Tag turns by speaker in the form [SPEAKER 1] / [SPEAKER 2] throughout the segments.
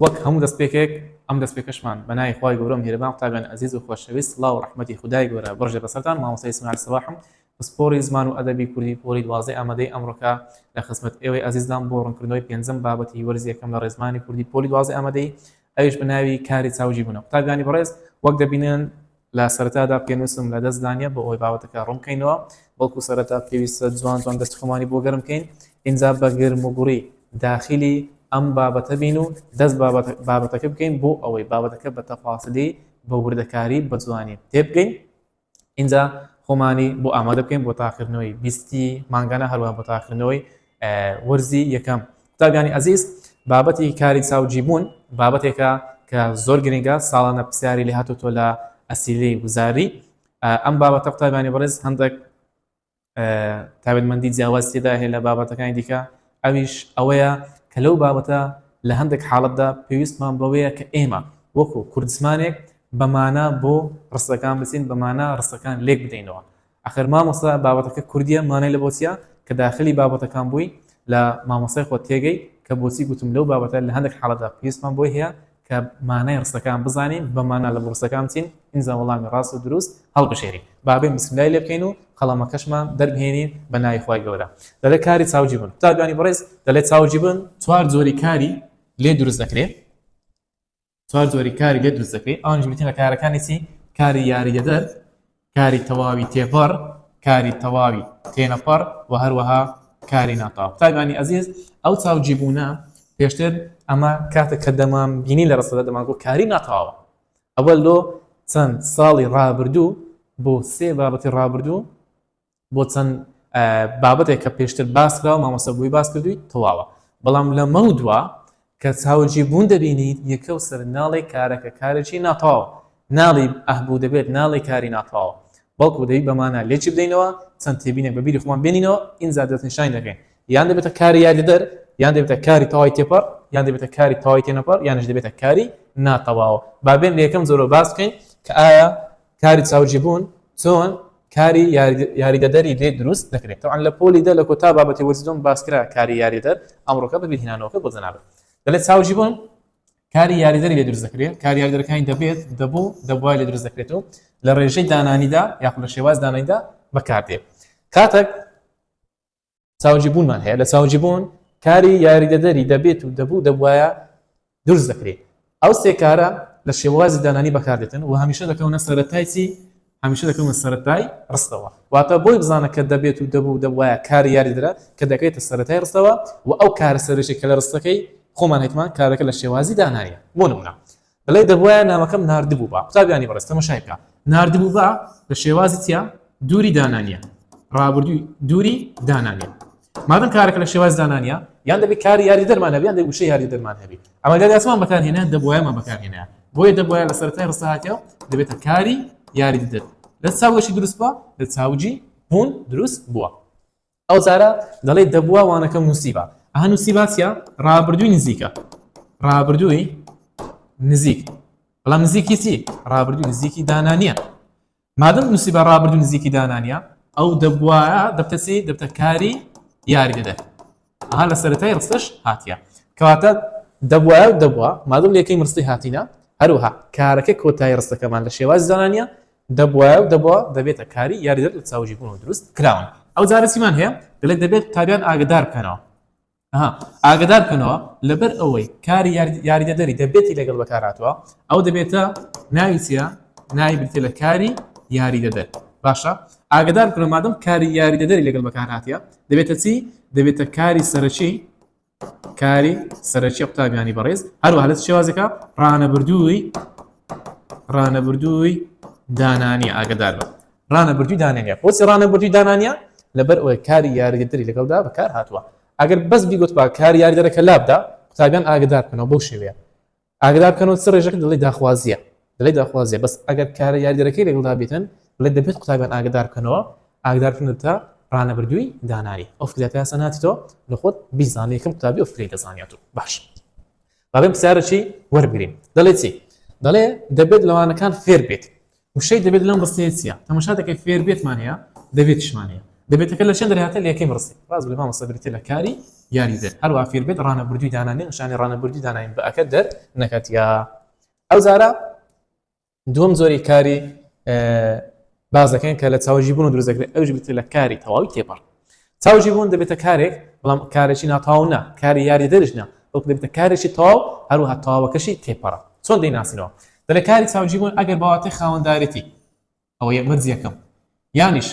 [SPEAKER 1] وەک هەموو دەستپێکێک ئەم دەستپێکەشمان بە ناوی خوای گەورە و میهرەبان قوتابیانی ئەزیز و خۆشەویست سڵاو و ڕەحمەتی خودای گەورە بڕژێ بەسەرتان مامۆستای ئیسماعیل سەباحم پسپۆڕی زمان و ئەدەبی کوردی پۆلی دوازدەی ئامادەی ئەمڕۆکە لە خزمەت ئێوەی ئەزیزدام بۆ ڕوونکردنەوەی پێنجەم بابەتی وەرزی یەکەم لە ڕێزمانی کوردی پۆلی دوازدەی ئامادەیی ئەویش بە ناوی کاری چاو جیبوونەوە قوتابیانی بەڕێز وەک دەبینن لە سەرەتادا پێنووسم لە دەست دانیە بۆ ئەوەی باوەتەکە ڕوون بکەینەوە بەڵکو سەرەتا پێویستە جوان جوان دەستی خۆمانی بۆ گەرم بکەین ئینجا بە گرم و گوڕی داخلی ئەم بابەتە بین و دەست بابەتەکە بکەین بۆ ئەوەی بابەتەکە بە تەفاسلی بە وردەکاری بە جوانی تێبگەین ئینجا خۆمانی بۆ ئامادە بکەین بۆ تاقیکردنەوەی بیستی مانگانە هەروە بۆ تاقیکردنەوەی وەرزی یەکەم قوتابیانی ئەزیز بابەتی کاری چاوجیبوون بابەتێکە کە زۆر گرنگە ساڵانە پرسیاری لە هاتوتۆ لە ئەسیلی وزاری ئەم بابەتە قوتابانی بەڕێز هەندێک تاوێتمەندی جیاواز تێدا هەیە لە بابەتەکانی دیکە ئەویش ئەوەیە کە لەو بابەتە لە هەندێک حاڵەتدا پێویستمان بەوەیە کە ئێمە وەکو کوردزمانێک بەمانە بۆ ڕستەکان بچین بەمانە ڕستەکان لێک بدەینەوە ئەخر مامۆستا بابەتەکە کوردیە مانای لە بۆچیە کە داخلی بابەتەکان بووی لە مامۆستای خۆت تێگەی کە بۆچی گوتم لەو بابەتە لە هەندێک حاڵەتدا پێویستمان بۆی هەیە کە مانای ڕستەکان بزانین بە مانا لە ڕستەکان بچین ئینجا وەڵامی ڕاست و دروست هەڵبژێرین بابێن بسملای لێ بکەین و قەڵەمەکەشمان دەربهێنین بە ناوی خوای گەورە دەلێ کاری چاوجی بن قوتابیانی بەڕێز دەلێ چاوجی بن چوار جۆری کاری لێ دروست دەکرێت چوار جۆری کاری لێ دروست دەکەی ئەوانیش بریتین لە کارەکانی چی کاری یاریدەدەر کاری تەواوی تێپەڕ کاری تەواوی تێنەپەڕ و هەروەها کاری ناتاو تایبانی ئەزیز ئەو چاوجی بوونە پێشتر ئەمە کاتە کە دەمان بینی لە ڕستەدا دەمان بۆ کاری ناتاوە ئەوە لۆ چەند ساڵی ڕابردوو بۆ سێ بابەتی ڕابردوو بۆ چەند بابەتێک کە پێشتر باس کراوە مامۆستا بووی باس کردووی تەواوە بەڵام لەمە و دوا کە چاوجی بوون دەبینیت یەکە و سەر ناڵی کارەکە کارێکی ناتەواوە ناڵی ئەهبوو دەبێت ناڵی کاری ناتەواوە بەڵکو دەی بەمانە لێکی بدەینەوە چەند تێبینێک بەبیری خۆمان بێنینەوە ئینجا دەستنیشانی دەکەین یان دەبێتە کاری یاریدەر یان دەبێتە کاری تەوای تێپەڕ یان دەبێتە کاری تەوای تێنەپەڕ یانش دەبێتە کاری ناتەواوە بابێن لە یەکەم زۆرۆ باس بکەین کە ئایا کاری چاوجیبوون چۆن کاری یاریدەدەری لێ دروست دەکرێت تەوان لە پۆلی دە لە کۆتا بابەتی وەرزیدۆم باسکرا کاری یاریدەر ئەمڕۆکە بەبیرهێنانەوەکە بۆ جەنابێت دەلێت چاوجی بوون کاری یاریدەری لێ دروست دەکرێت کار یاریدەرەکانی دەبێت دەبوو دەبوای لێ دروست دەکرێت و لە ڕێژەی دانانیدا یاخود لە شێواز دانانیدا بەکاردێت کاتێک چاوجی بوونمان هەیە لە چاوجی بوون کاری یاریدەدەری دەبێت و دەبوو دەبواە دروست دەکرێت ئەو سێکارە لە شێوازی دانانی بەکاردێتن و هەمیشە دەکەونە سەرەتایسی هەمیشە دەکەونە سەرەتای ڕستەوە واتە بۆی بزانە کە دەبێت و دەبوو دەبواە کاری یاریدرا کە دەکەێتە سەرەتای ڕستەوە و ئەو کارە سەرشی کە لە ڕستەکەی خۆمان هەیتمان کارەکە لە شێوازی دانایە بۆ نمونە بەلای دەبوایە نامەکەم ناردبووبا قوتابیانی بەڕێز تەمەشای بکە ناردبووبا لە شێوازی چیا دووری دانانیە ڕابردووی دووری دانانیە مادەم کارەکە لە شێواز دانانیە یان دەبێت کاری یاری دەرمان هەبیان دەی وشە یاری دەرمان هەبی ئەمە گەر یاسمان بەکارهێنە دەبوایەمان بەکارهێنە بۆیە دەبوایە لە سەرای ڕساهاتەوە دەبێتە کاری یاری دەر لە چاوەشی دروستبە لە چاوجی بوون دروست بووە ئەو جارە دەڵێی دەبوا وانەکەم نووسیبا ئەها نووسیبا چیە ڕابردووی نزیکە ڕابردووی نزیک بەڵام نزیکی چی ڕابردووی نزیکی دانانیە مادەم نووسیبا ڕابردوو نزیکی دانانیە ئەو دەبواە دەبتەسی دەبتەکاری یاری دەدەێت ئەها لە سەرەتای ڕستەش هاتیە کەواتە دەبواە دەبوا مادەم لەکەی مرسی هاتینە هەروها کارەکە کۆتایی ڕستەکەمان لە شێواز زانانیە دەبوایە و دەبوا دەبێتە کاری یاریدەر لە چاوگیربوونەوە دروست کراون ئەوجارە چیمان هەیە دەلێت دەبێت قوتابیان ئاگەدار بکەنەوە ئەها ئاگەدار بکەنەوە لەبەر ئەوەی کاری یاریدەدەری دەبێتی لەگەڵ بەکارهاتووە ئەو دەبێتە ناوی چیە ناوی بریتە لە کاری یاریدەدەر باشە ئاگدار بکەن مادەم کاری یاریدەدەری لەگەڵ بەکارهاتە دەبێتە چی دەبێتە کاری سەرەکی کاری سەرەکیە قوتابیانی بەڕێز هەروە لە شێوازەکە ڕانەبردووی ڕانەبردووی دانانی ئاگدار بە ڕانەبردووی دانانە بۆچی ڕانەبردووی دانانە لەبەر ئەوەی کاری یاریدەری لەگەڵدا بەکار هاتووە ئەگەر بەس بیگوت با کار یاریدەرەکە لابدا قوتابیان ئاگدار بکەنەوە بەو شێوەیە ئاگدار بکەنەوە چ ڕێژەکە دەڵێی داخوازییە دەڵێی داخوازییە بەس ئەگەر کارە یاریدەرەکەی لەگەڵدا بێتن دەڵێت دەبێت قوتابیان ئاگدار بکەنەوە ئاگدار بکەنەوە تا ڕانەبردووی دانایی ئەو فکرە پێیاسە ناچێتەوە لە خۆت بیزانانی یەکەم قوتابی ئەو فکرەی دەزانیات و باش بابێن پرسیارەکی وەربگرین دەڵێ چی دەڵێ دەبێت لەوانەکان فێر بێت وشەی دەبێت لەم ڕستەیە چییە؟ تەماشا دەکەی فێر بێتمان هەیە دەبێتشمان هەیە دەبێتەکە لە چەند دەرهاتە لە یەکەی ڕستی ڕاز بێ مامۆستا بریتیە لە کاری یاری دەر هەروە فێر بێت ڕانەبردووی دانانی نیشانی ڕانەبردووی داناین بە ئەکە دەر نەکات یا ئەو زارە دووەم زۆری کاری بازەکەن کە لە چاوەژی بوون و دروزەکرێت ئەوش بتر لە کاری تەواوی تێپەڕ چاوجی بوون دەبێتە کارێک بەڵام کارێکی ناتاو نا کاری یاری دەرش نا بەڵکو دەبێتە کارێکی تاو هەروها تاوەکەشی تێپەڕە چۆن دەیناسینەوە دەلە کاری چاوجی بوون ئەگەر باواتەی خاوەندارێتی ئەوە یە مەرج یەکەم یانیش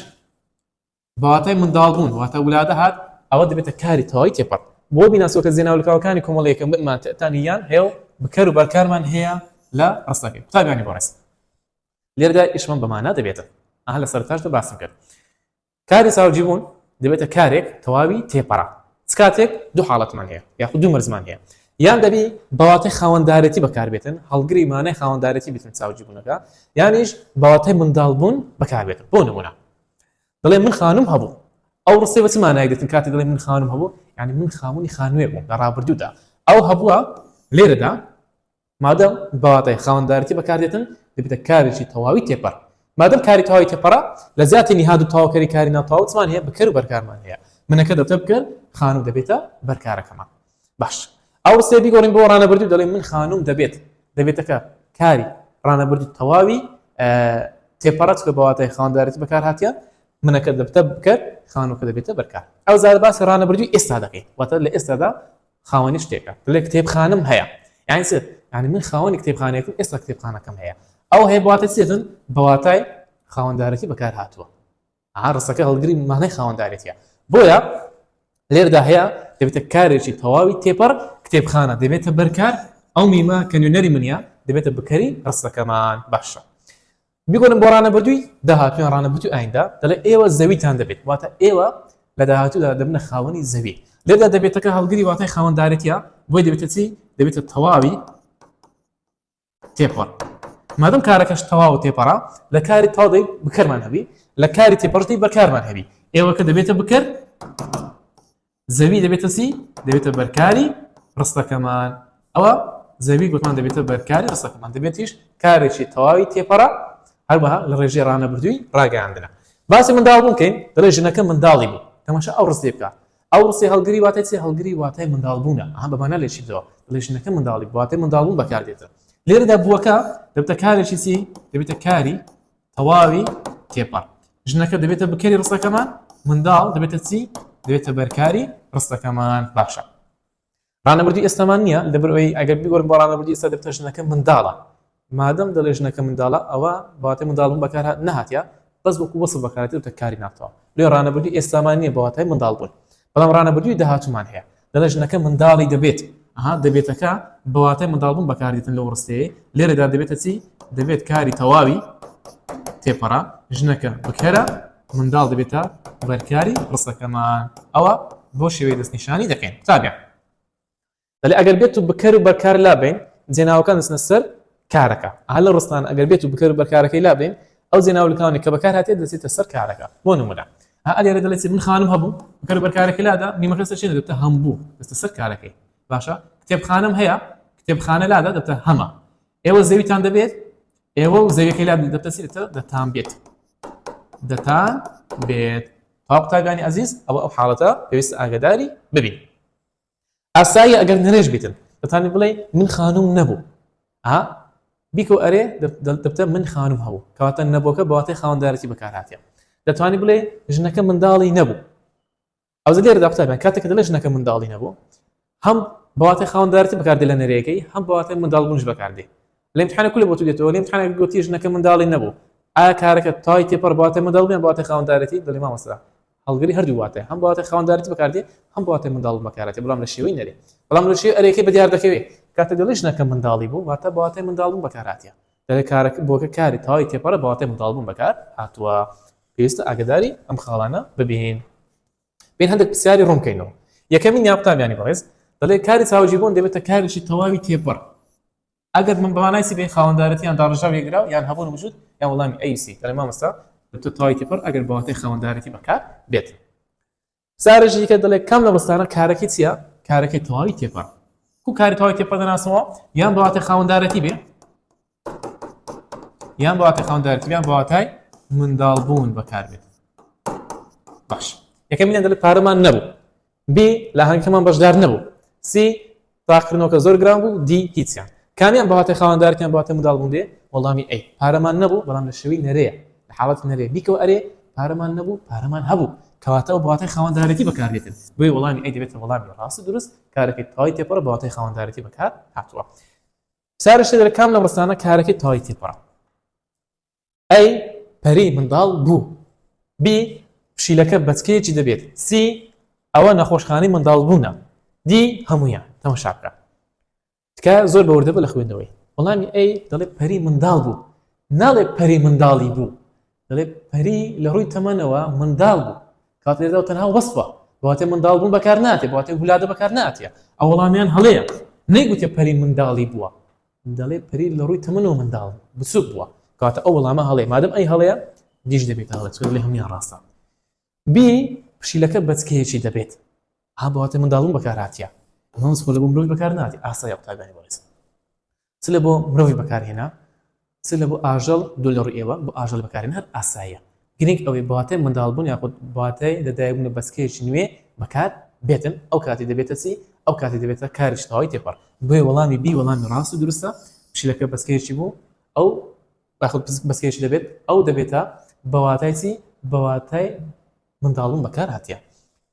[SPEAKER 1] باواتای منداڵ بوون واتە ولادە هات ئەوە دەبێتە کاری تەواوی تێپەڕ بۆ بیناسۆکە زێناولکاوەکانی کۆمەڵەیەکەم بمان تەتانی یان هێڵ بکەر و بەرکارمان هەیە لە ڕستەکە قوتابیانی بەڕێز لێردا ئیشمان بەمانە دەبێتە ئەها لە سەرتاشدا باسم کرد کاری چاوجیبوون دەبێتە کارێک تەواوی تێپەڕە چ کاتێک دوو حاڵەتمان هەیە یاخود دوو مەرزمان هەیە یان دەبی بەواتای خاوەندارەتی بەکاربێتن هەڵگری مانای خاوەندارەتی بتن چاوجیبوونەکە یانیش بەواتای منداڵ بوون بەکاربێت بۆ نمونە دەڵێ من خانم هەبوو ئەو ڕستی بە چ مانای دەتن کاتی دەڵێ من خانم هەبوو یعنی من خاوەنی خانوێ بووم لە ڕابردوودا ئەو هەبووە لێرەدا مادەم بە واتای خاوەندارێتی بەکاردێتن، دەبێتە کارێکی تەواوی تێپەڕ. مادەم کاری تەواوی تێپەڕە، لە جیاتی نهاد و تەواوکەری کاری ناتەواو چمان هەیە؟ بکەر و بەرکارمان هەیە. منەکە دەبتە بکەر، خانوو دەبێتە بەرکارەکەمان. باش، ئەو ڕستەیە بیگۆڕین بۆ ڕانەبردی و دەڵێین من خانووم دەبێت. دەبێتەکە کاری ڕانەبردی تەواوی تێپەڕە، چونکە بە واتای خاوەندارێتی بەکارهاتیە. منەکە دەبتە بکەر، خانووەکە دەبێتە بەرکار. ئەوجا باسی ڕانەبردووی ئێستا دەکەین، واتە لە ئێستادا خاوەنی شتێکە بلێ کتێبخانم هەیە یانی چ یانی من خاوەنی کتێبخانێکم ئێستا کتێبخانەکەم هەیە ئەو هەیە بواتە چێتن بەواتای خاوەندارەتی بەکار هاتووە ئارسەکە هەڵگری مانای خاوەندارێتە بۆیە لێردا هەیە دەبێتە کارێکی تەواوی تێپەر کتێبخانە دەبێتە بەرکار ئەو میمە کە نوێنەری منە دەبێتە بکەری ڕستەکەمان باشە بیگۆرن بۆ ڕانەبردووی داهاتوو یان ڕانەبردووی ئایندە دەڵێ ئێوە زەویتان دەبێت واتە ئێوە لە داهاتوودا دەبنە خاوەنی زەوی لێدا دەبێتەکە هەڵگری واتای خاوەندارێتە بۆی دەبێتە چی دەبێتە تەواوی تێپەڕ مادەم کارەکەش تەواو و تێپەڕا لە کاری تاڵی بکەرمان هەبی لە کاری تێپەڕتی بەکارمان هەبی ئێوەکە دەبێتە بکەر زەوی دەبێتە چی؟ دەبێتە بەرکاری ڕستەکەمان ئەوە زەوی گوتمان دەبێتە بەرکاری ڕستەکەمان دەبێتیش کارێکی تەواوی تێپەڕە هەروەها لە ڕێژێ ڕانەبردووی ڕاگەیاندنە باسی منداڵ بوون کەین دەڵێ ژنەکە منداڵی بوو تەماشا ئەو ڕستێ بکە ئەو ڕستی هەڵگری واتای چی هەڵگری واتای منداڵ بوونە ئەها بەمانە لێ چیتەوە دڵێ ژنەکە منداڵی واتای منداڵ بوون بەکاردێتە لێرەدا بووەکە دەبتە کارێکی چی دەبێتە کاری تەواوی تێپەڕ ژنەکە دەبێتە بکەری ڕستەکەمان منداڵ دەبێتە چی دەبێتە بەرکاری ڕستەکەمان باشە ڕانەبردی ئێستامان نییە لەبەرەوەی ئەگەر بگۆر بۆ ڕانەبردی ئێستا دەبتە ژنەکە منداڵە مادەم دەڵێ ژنەکە منداڵە ئەوە باتە منداڵم بەکار نهاتە بەس وەکو وەسە بەکارێتە کاری ناتەوە لێ ڕانەبردی ئێستامان نییە بەواتای منداڵ بوون بەڵام ڕانەبردی داهاتومان هەیە دەڵێ ژنەکە منداڵی دەبێت ئەها دەبێتەکە بەواتای منداڵبوون بەکاردێتن لەو ڕستەیە لێرەدا دەبێتە چی دەبێت کاری تەواوی تێپەڕا ژنەکە بکەرە منداڵ دەبێتە بەرکاری ڕستەکەمان ئەوە بۆ شێوەی دەستنیشانی دەکەین تابێ دەڵێ ئەگەر بێت و بکەر و بەرکار لابین جێناوەکان دەستنە سەر کارەکە ئا لە ڕستان ئەگەر بێت و بکەر و بەرکارەکەی لابەین ئەو جێ ناولکاونێک کە بەکار هاتێت دەچێتە سەر کارەکە بۆ نمونە ئا ئەلێرە دەڵێت من خانم هەبوو بکەر و بەرکارەکەی لادا میمەکە سەر چێ دەبتە هەمبوو دەستە سەر کارەکەی باشە کتێبخانەم هەیە کتێبخانە لادا دەبتە هەمە ئێوە زەویتان دەبێت ئێوە و زەویەکەی لا دەبتە سێتە دەتان بێت دەتان بێت پاپتاگانی ئازیز ئەوە ئەو حاڵەتە پێویست ئاگداری ببین ئاساییە ئەگەر نرێژ بیتن دەتانی بڵێ من خانوم نەبوو ئا بیکە ئەرێ دەبتە من خانم هەبوو کەواتە نەبووکە بەواتەی خاوەندارەتی بەکارهاتە دەتوانانی بڵێ ژنەکە منداڵی نەبوو ئەو لێرە داقوتابیان کاتێکە دەڵێ ژنەکە منداڵی نەبوو هەم بەواتەی خاوەندارەتی بەکاردێ لە نەرێگەی هەم بەواتەی منداڵ بوونش بەکاردێ لەم حانە کولە بۆ تو دێتەوە لەم حانە گوتی ژنەکە منداڵی نەبوو ئایا کارەکە تای تێپەڕ بەواتە منداڵ بێن بەواتە خاوەندارەتی دەڵێ مامەستا هەڵگری هەردوو واتایە هەم بە واتای خاوەندارێتی بەکاردێ هەم بە واتای منداڵ و مەکارەتێ بەڵام لە شێوەی نەرێ بەڵام لە شێوەی ئەرێکەی بەدیار دەکەوێ کاتێ دەڵێی ژنەکە منداڵی بوو واتە بە واتای منداڵبوون بەکارهاتیە دەڵێ کارەکە بۆکە کاری تەواوی تێپەڕە بە واتای منداڵبوون بەکار هاتووە پێویستە ئاگداری ئەم خاڵانە ببین بین هەندێک پرسیاری ڕوون بکەینەوە یەکەمین یا قوتابیانی بەڕێز دەڵێ کاری چاوجیبوون دەبێتە کارێکی تەواوی تێپەڕ ئەگەر من بەمانای سیبەی خاوەندارەتیان داڕژاو یەکراو یان هەبوون وجود یا وەڵامی ئەوسی دەڵێ مامۆستا دکتۆر تەواوی تێپەڕ ئەگەر بەواتای خاوەندارەتی بەکار بێت سارەژی دیکە دەڵێ کام لە بەستانە کارەکەی چییە کارەکەی تەواوی تێپەڕ کو کاری تەواوی تێپەڕ دەناسەوە یان بەواتی خاوەندارەتی بێ یان بەواتی خاوەندارەتی یان بەواتای منداڵ بوون بەکار بێت باش یەکەمینە دەڵێت پارەمان نەبوو ب لە ئاهەنگەکەمان بەشدار نەبوو. س تاقکردنەوەکە زۆر گران بوو. د هیچیان. کامیان بە واتای خاوەندارێتیان بە واتای منداڵبوون دێ؟ وەڵامی، ئەی. پارەمان نەبوو، بەڵام لە شێوەی نەرێیە. لە حاڵەتی نەرێ، بیکەوە ئەرێ، پارەمان نەبوو، پارەمان هەبوو. کەواتە ئەو بە واتای خاوەندارێتی بەکاردێتن. بۆیە وەڵامی، ئەی، دەبێتە وەڵامی ڕاست و دروست، کارەکەی تەوای تێپەڕە بە واتای خاوەندارێتی بەکارهاتووە. چارەسەر، کام لەم ڕستانە کارەکەی تەوای تێپەڕە؟ A پەری منداڵ بوو B پشیلەکە بەچکەیەکی دەبێت C ئەوە نەخۆشخانەی منداڵبوونە D هەموویان تەمەشا بکە تکایە زۆر بە وردەبە لە خوێندنەوەی وەڵامی ئەی دەڵێ پەری منداڵ بوو ناڵێ پەری منداڵی بوو دەڵێ پەری لە ڕووی تەمەنەوە منداڵ بوو کات لێدا و تەنها وەسفە بەواتێ منداڵ بوون بەکار ناتێ بەواتێ گولادە بەکار ناتە ئەو وەڵامیان هەڵەیە نەیگوتێ پەری منداڵی بووە دەڵێ پەری لە ڕووی تەمەنەوە منداڵ بچووک بووە کاتە ئەو وەڵامە هەڵەیە مادەم ئەی هەڵەیە دیش دەبێت هەڵە چکە لە هەمویان ڕاستە بی پشیلەکە بەچکەیەکی دەبێت ها بەواتە منداڵون بەکاراتە ئەمەس خۆ لە بۆ مرۆڤ بەکار ناتی ئاسای قوتابانی بەڕێز چ لە بۆ مرۆڤی بەکارهێنا چ لە بۆ ئاژەڵ دو لە ڕوو ئێوە بۆ ئاژەل بەکارێن هەر ئاساییە گرنگ ئەوەی بە واتای منداڵبوون یاخود بە واتای لەدایکبوون و بەچکەیەکی نوێ بەکار بێتن، ئەو کاتی دەبێتە چی؟ ئەو کاتی دەبێتە کارێکی تەواوی تێپەڕ. بۆیە وەڵامی بی وەڵامی ڕاست و دروستە، پشیلەکە بەچکەیەکی بوو، ئەو یاخود پزک بەچکەیەکی دەبێت، ئەو دەبێتە بە واتای چی؟ بە واتای منداڵبوون بەکار هاتیە.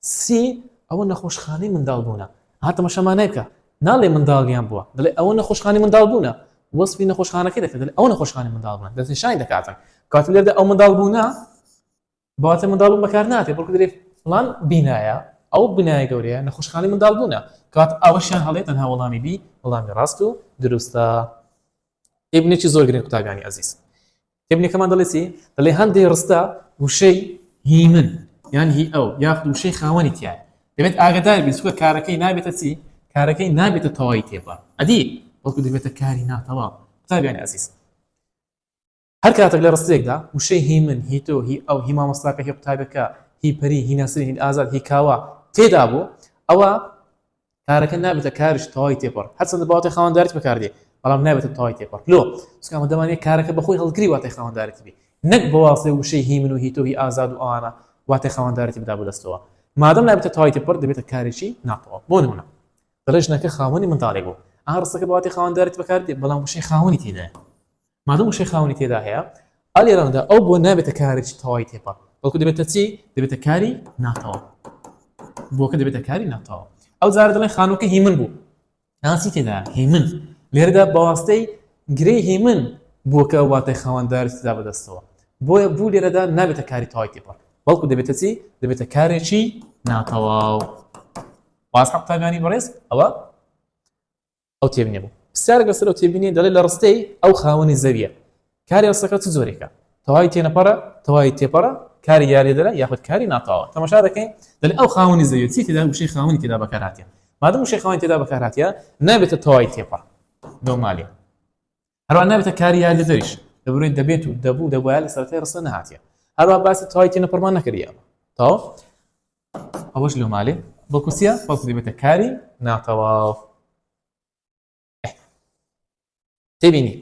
[SPEAKER 1] سێ، ئەوە نەخۆشخانەی منداڵبوونە. ها تەماشامانای بکە، ناڵێ منداڵیان بووە، دەڵێ ئەوە نەخۆشخانەی منداڵبوونە. وەسفی نەخۆشخانەکەی دەکات، دەڵێ ئەوە نەخۆشخانەی منداڵبوونە، دەستنیشانی دەکاتن. کەواتە لێرەدا ئەو منداڵبوونە بە واتای منداڵبوون بەکار ناتێ، بەڵکو دەرێ فڵان بینایە، ئەو بینایە گەورەیە نەخۆشخانەی منداڵبوونە. کەواتە ئەوەشیان هەڵەیە، تەنها وەڵامی بی وەڵامی ڕاست و دروستە. ئێ بنێکی زۆر گرنگ قوتابیانی ئەزیز. تێبینیەکەمان دەڵێ چی؟ دەڵێ هەندێ ڕستە وشەی هی من یان هی ئەو یاخود وشەی خاوەنی تیایە دەبێت ئاگدار بین چکە کارەکەی نابێتە چی کارەکەی نابێتە تەواوی تێپە ئەدی وەکو دەبێتە کاری ناتەواو قوتابیانی ئەزیز هەر کاتێک لە ڕستێکدا وشەی هی من هی تۆ هی ئەو هی مامۆستاکە هی قوتابەکە هی پەری هی ناسری هی ئازاد هی کاوە تێدا بوو ئەوە کارەکە نابێتە کارش تەوای تێپەڕ هەرچەندە بەواتای خاوەندارت بەکاردێ بەڵام نابێتە تەوای تێپەڕ لۆ سکامە دەمانێت کارەکە بەخۆی هەڵگری واتای خاوەندارەتی بێ نەک بەواسێ وشەی هی من و هی تۆهی ئازاد و ئەوانە واتای خاوەندارەتی بدا بۆ دەستەوە مادەم نابێتە تەوای تێپەڕ دەبێتە کارێکی ناتەواو بۆ نمونە دەڵێ ژنەکە خاوەنی منداڵێک بوو ئاڕستەکە بەواتی خاوەندارەتی بەکاردێ بەڵام وشەی خاوەنی تێدایە مادەم وشەی خاوەنی تێدا هەیە، ئا لێرەدا ئەو بۆ نابێتە کارێکی تەوای تێپەڕ، بەڵکو دەبێتە چی؟ دەبێتە کاری ناتەوا. بۆکە دەبێتە کاری ناتەوا. ئەو جارە دەڵێن خانووکە هی من بوو. ناسی تێدا هی من. لێرەدا بەواستەی گرێی هی من بۆکە واتای خاوەندار تدا بەدەستەوە. بۆیە بوو لێرەدا نابێتە کاری تەوای تێپەڕ. بەڵکو دەبێتە چی؟ دەبێتە کارێکی ناتەواو. واز حەقتاگانی بەڕێز ئەوە ئەو تێبینیە بوو پرسیارێک لەسەر ئەو تێبینیە دەڵێت لە ڕستەی ئەو خاوەنی زەویە کاری ڕستەکە چ جۆرێکە تەواوی تێنەپەڕە تەواوی تێپەڕە کاری یاریدەرە یاخود کاری ناتەواوە تەماشا دەکەین دەڵێت ئەو خاوەنی زەویە چی تێدا وشەی خاوەنی تێدا بەکارهاتیە مادەم وشەی خاوەنی تێدا بەکارهاتیە نابێتە تەواوی تێپەڕ نۆمالیە هەروە نابێتە کاری یاریدەدەریش دەبرێت دەبێت و دەبوو دەبواە لە سەرەتای ڕستە نەهاتە هەروە باسی تەواوی تێنە پڕمان نەکردیە تاو ئەوەش لۆ مالێ بۆ کوسیە بەڵکو دەبێتە کاری ناتەواو تێبینی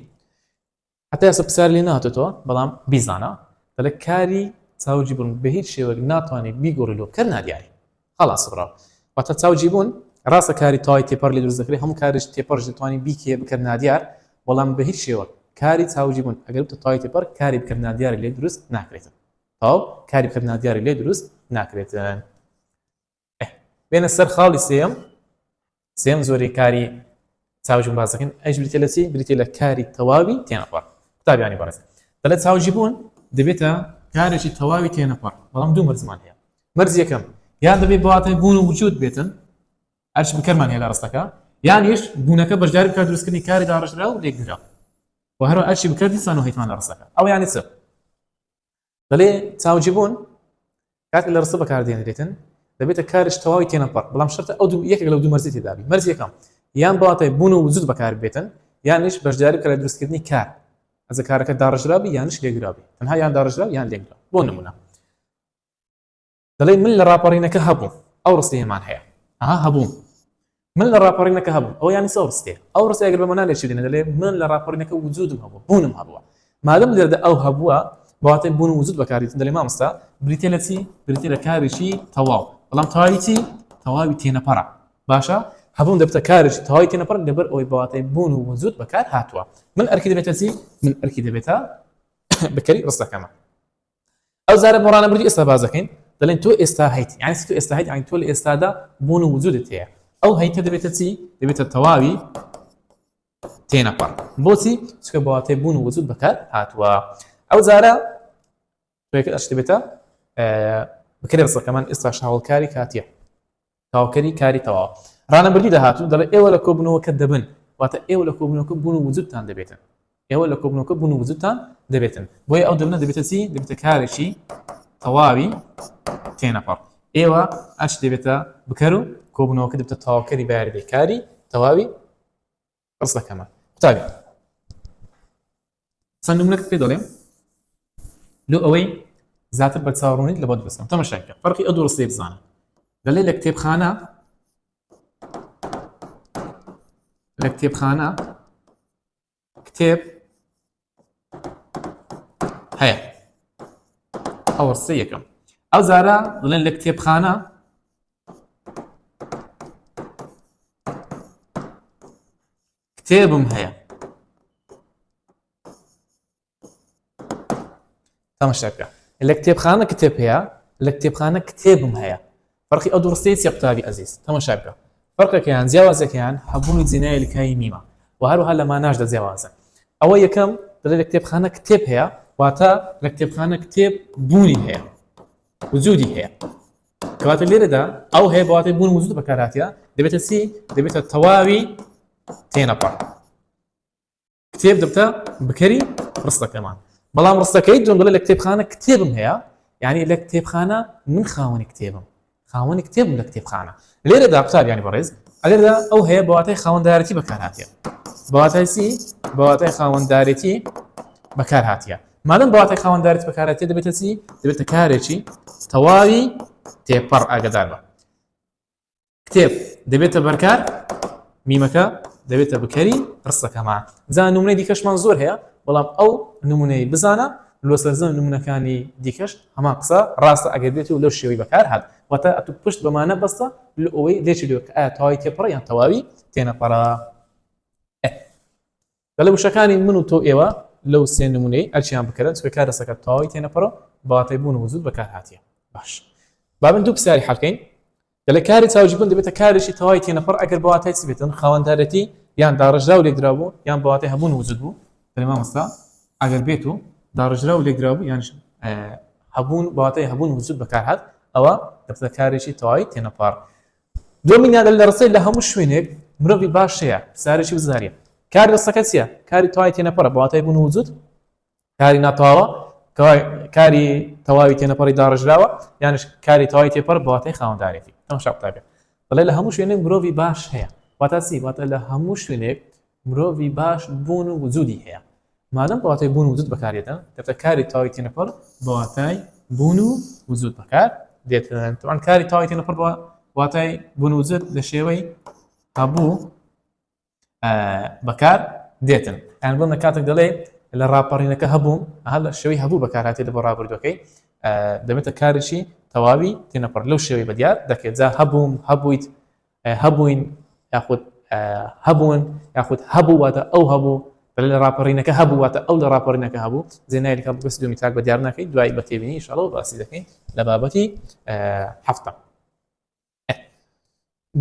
[SPEAKER 1] حتا ئێستا پرسیار لێ نهاتێتەوە بەڵام بیزانە دەلە کاری چاوجی بن بە هیچ شێوەک ناتوانێت بیگۆڕی لۆ کەر نادیاری خەڵاس برا واتا چاو جی بوون. ڕاستە کاری تای تێپەر لێ دروست دەکرێت هەموو کارێک تێپەرش دەتوانی بیکێ بکەت نادیار بەڵام بە هیچ شێوەک کاری چاو جی بوون ئەگەر بتە تای تێپەر کاری بکەت نادیارێک لێ دروست ناکرێتن تاو کاری بکەت نادیارێک لێ دروست ناکرێتن بێنە سەر خاڵی سێم سێم زۆری کاری چاوجی بازەکەن ئەش بریتە لە چی بریتە لە کاری تەواوی تێنەپەڕ قوتابیانی بەڕێز دەڵێت چاوجی بوون دەبێتە کارێکی تەواوی تێنەپەڕ بەڵام دوو مەرزمان هەیە مەرز یەکەم یان دەبێت بەواتای بوون و وجود بێتن ئەرش بکەمان هێلا ڕستەکە یان یش بوونەکە بەشداری بکات دروستکردنی کاری داڕژرا و لێکدرا و هەرو ئەرشی بکردی سان و هیتمان لە ڕستەکە ئەو یانی چ دەڵێ چاوجیبوون کاتێک لە ڕستە بەکاردێنرێتن دەبێتە کارش تەواوی تێنەپەڕ بەڵام شەرتە ئەو دوو یەکێک لە دوو مەرزی تێدابی مەرز یەکەم یان بڵاتای بوون و وجود بەکار بێتن یانش بەشداری کە لە دروستکردنی کار ئەزە کارەکە داڕژرابی یانش لێگرابی تەنها یان داڕژرا یان لێگرا بۆ نمونە دەڵێ من لە ڕاپەڕینەکە هەبووم ئەو ڕستەیەمان هەیە ئەها هەبووم من لە ڕاپەڕینەکە هەبووم ئەو یانی سەو ڕستێ ئەو ڕستی ئەگەر بەمەنا لێ شیرینە دەڵێ من لە ڕاپەڕینەکە وجودم هەبوو بوونم هەبووە مادەم دەردە ئەو هەبووە بەواتای بوون وجود بەکاریتن دەلێ مامۆستا بریتە لە چی بریتە لە کارێکی تەواو بەڵام تەواوی چی تەواوی تێنەپەڕە باشە هەبوون دەبتە کارێکی تەواوی تێنەپەڕ لەبەر ئەوەی بەواتای بوون و وجود بەکار هاتووە من ئەرکی دەبێتە چی من ئەرکی دەبێتە بەکەری ڕستەکەمە ئەو زارە بۆڕانە بردی ئێستا بازەکەین دەڵێن تۆ ئێستا هەیت یعنی تۆ ئێستا هەیت یعنی تۆ لە ئێستادا بوون و وجودت هەیە ئەو هەیتە دەبێتە چی دەبێتە تەواوی تێنەپەڕ بۆچی چکە بەواتێ بوون و وجود بەکار هاتووە ئەو زارە بێتە بکرێ ڕسەکەمان ئێستا شاوڵکاری کاتیە تەواوکەری کاری تەواوە. ڕانەبردی داهاتوو دەڵێت ئێوە لە کۆبوونەوەکە دەبن، واتە ئێوە لە کۆبوونەوەکە بوون و وجودتان دەبێتن. ئێوە لە کۆبوونەوەکە بوون و وجودتان دەبێتن. بۆیە ئەو دەبنە دەبێتە چی؟ دەبێتە کارێکی تەواوی تێنەپەڕ. ئێوە ئەچ دەبێتە بکەر و کۆبوونەوەکە دەبێتە تەواوکەری بایەردەی کاری تەواوی ڕستەکەمان قوتابی چەند نمونەت پێ دەڵێم لۆ ئەوەی زیاتر بە چاڕونیت لە بۆت بسم تەمەشاکە فەرقی ئە دوو ڕستی بزانە دەڵێ لە کتێبخانە لە کتێبخانە کتێب هەیە ئەوە سێ یەکەم ئەو زارە دڵێن لە کتێبخانە کتێبم هەیە تەمەشا بکە لە کتێبخانە کتێب هەیە لە کتێبخانە کتێبم هەیە فەرقی ئەو دوڕستەی چێ قوتابی ئەزیز تەمەشا بکە فەرقەکەیان جیاوازەکەیان هەبوونی جێنای لکایی میمە و هەروها لە ماناشدا جیاوازن ئەوە یەکەم دەڵێ لە کتێبخانە کتێب هەیە واتە لە کتێبخانە کتێب بوونی هەیە وجودی هەیە کەواتە لێرەدا ئەو هەیە بەواتی بوون وجود بەکاراتە دەبێتە چی دەبێتە تەواوی تێنەپڕ کتێب دەبتە بکەری ڕستەکەمان بەڵام ڕستەکەی جۆنگلە لە کتێبخانە کتێبم هەیە یعنی لە کتێبخانە من خاوەنی کتێبم خاوەنی کتێبم لە کتێبخانە لێرەدا قوتابیانی بەڕێز ئەگەردا ئەو هەیە بەواتای خاوەندارەتی بەکارهاتە بەواتای سی بەواتای خاوەندارێتی بەکار هااتە مادەم بەواتای خاوەندارێت بەکارەتی دەبێتە چی دەبێتە کارێکی تەواوی تێپەڕ ئاگدار بە کتێب دەبێتە بەرکار میمەکە دەبێتە بکەری ڕستەکەمان جا نمونەی دیکەشمان زۆر هەیە بەڵام ئەو نمونەی بزانە لۆ سەرزەم نمونونەکانی دیکەش هەمان قسە ڕاستە ئەگەر بێت و لەو شێوەی بەکار هات واتە ئەتو پشت بەمانە بەستە لە ئەوەی لێچ لێ تەواوی تێپەڕ یان تەواوی تێنەپەڕە دەڵێ وشەکانی من و تۆ ئێوە لەو سێ نمونەی ئەرچیان بکەرن چکە کار دەسەکە تەواوی تێنەپەڕۆ بەواتای بوون و وجود بەکار هاتیە باش با من دوو پرسیاری حەلکەین دەڵێ کاری چاوجیبوون دەبێتە کارێکی تەواوی تێنەپەڕ ئەگەر بەواتای چ بێتن خاوەندارەتی یان داڕژرا و لێکدرا بوو یان بەواتای هەبوون وجود بوو دەڵێ مامۆستا ئەگەر بێت و داڕژرا و لێکدرا بوو یان هەبوون بەواتای هەبوون وجود بەکار هات ئەوە دەبتە کارێکی تەواوی تێنەپەڕ دۆمینیا دەل دەڕسێت لە هەموو شوێنێک مرۆڤی باش هەیە سارێکی وزاریە کاری دەستەکە چیە کاری تەواوی تێنەپەڕە بە واتای بوون و وجود کاری ناتەواوە کاری تەواوی تێنەپەڕی داڕژراوە یانش کاری تەواوی تێپەر بە واتای خاوەندارێتی ئەم شاپتابێ بەڵێ لە هەموو شوێنێک مرۆڤی باش هەیە واتا سی واتە لە هەموو شوێنێک مرۆڤی باش بوون و وجودی هەیە مادەم بە واتای بوون و وجود بەکاردێتە کەتە کاری تاوی تێنەپەڕ بە واتای بوون و وجود بەکار دێتن تەوان کاری تاوی تێنەپەڕ بە واتای بوون و وجود لە شێوەی هەبوو بەکار دێتن یان بۆ نەکاتێک دەڵێ لە ڕاپەڕینەکە هەبوو هە لە شوی هەبوو بەکاراتێت بۆ ڕابردوەکەی دەبێتە کارشی تەواوی تێنەپڕ لەو شێوەی بەدیار دەکرێت جا هەبووم هەبوویت هەبووین یاخود هەبوون یاخود هەبوو واتە ئەو هەبوو لە راپەڕینەکە هەبوو واتە ئەو لە راپەڕینەکە هەبوو زێنایلکە بەس دومی تاک بە دیار ناکەین دوای بە تێبینی شڵەوە باسی دەکەین لە بابەتی هەفتە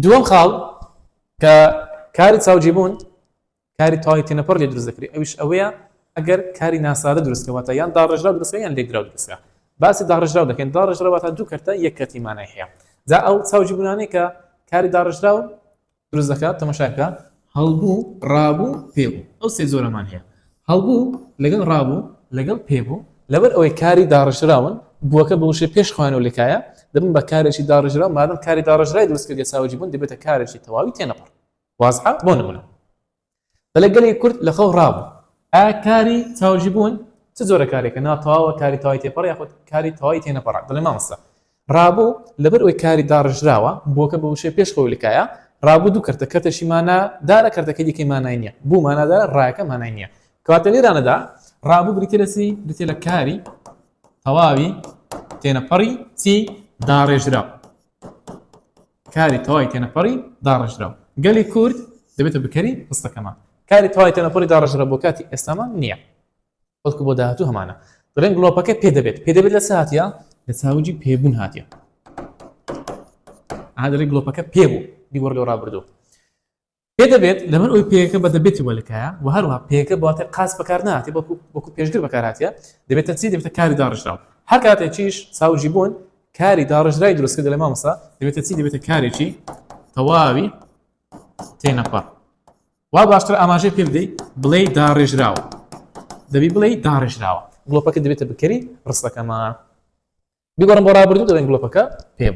[SPEAKER 1] دووەم خاڵ کە کاری چاوجیبوون کاری تەواوی تێنەپەڕ لێ دروست دەکرێت ئەویش ئەوەیە ئەگەر کاری ناسادە دروستکە واتە یان داڕێژراو دروستە یان لێکدراو دروستە باسی داڕێژراو دەکەین داڕێژراو واتە دوو کەرتە یەک کەرتی مانای هەیە جا ئەو چاوجی بوونانەی کە کاری داڕێژراو دروست دەکات تەمەشاکە هەڵبوو ڕابوو پێبوو ئەو سێ زۆرەمان هەیە هەڵبوو لەگەڵ ڕابوو لەگەڵ پێبوو لەبەر ئەوەی کاری داڕێژراون بووەکە بە وشێ پێش خوانەوە لەکایە دەبن بە کارێکی داڕێژرا مادەم کاری داڕێژرای دروستکردێ چاوجی بوون دەبێتە کارێکی تەواوی تێنەپەڕ وازحە بۆ نمونە بەلێ گەلێک کورد لە خەو ڕابوو ئا کاری چاوژی بوون چ جۆرە کارێکە ناتەواوە کاری تەوای تێپەڕ یاخود کاری تەوای تێ نەپەڕ دەڵێ مامۆستا ڕابوو لەبەر ئەوی کاری داڕژراوە بۆکە بە وشەی پێش خۆی لکایە ڕابوو دوو کەرتە کەتەشی مانا دارە کەرتەکە دیکەی مانای نییە بوو مانادارە ڕایەکە مانای نییە کەواتە لێرانەدا ڕابوو بریتە لە چی بریتە لە کاری تەواوی تێنەپەڕی چی داڕێژراو کاری تەوای تێنەپەڕی داڕێژراو گەلی کورد دەبێتە بکەری هەستەکەمان کاری تەوای تێنەپەڕی داڕێژرا بۆ کاتی ئێستامان نییە بەڵکو بۆ داهاتوو هەمانە دەڵێن گڵۆپەکە پێ دەبێت پێ دەبێت لە سااتە لە چاوجی پێبوون هااتە ئادەێک گڵۆپەکە پێ بوو دیوەەر لەو ڕابردوو پێ دەبێت لەبەر ئەوەی پێیەکە بە دەبێتی وەلکایە و هەروەها پێیەکە بە واتای قاس بەکار ناهاتێ بەڵکو وەکو پێشگر بەکار هاتیە دەبێتە چی دەبێتە کاری داڕشراو هەر کاتێکیش ساوجی بوون کاری داڕژرای دروست کردە لە مامۆسا دەبێتە چی دەبێتە کارێکی تەواوی تێنەپەڕ وا باشتر ئاماژەی پێ بدەیت بڵێ داڕێژراوە دەبی بڵێ داڕێژراوە گڵۆپەکە دەبێتە بکەری ڕستەکەمە بیگەڕم بۆ ڕابردوو دەڵێن گڵۆپەکە پێم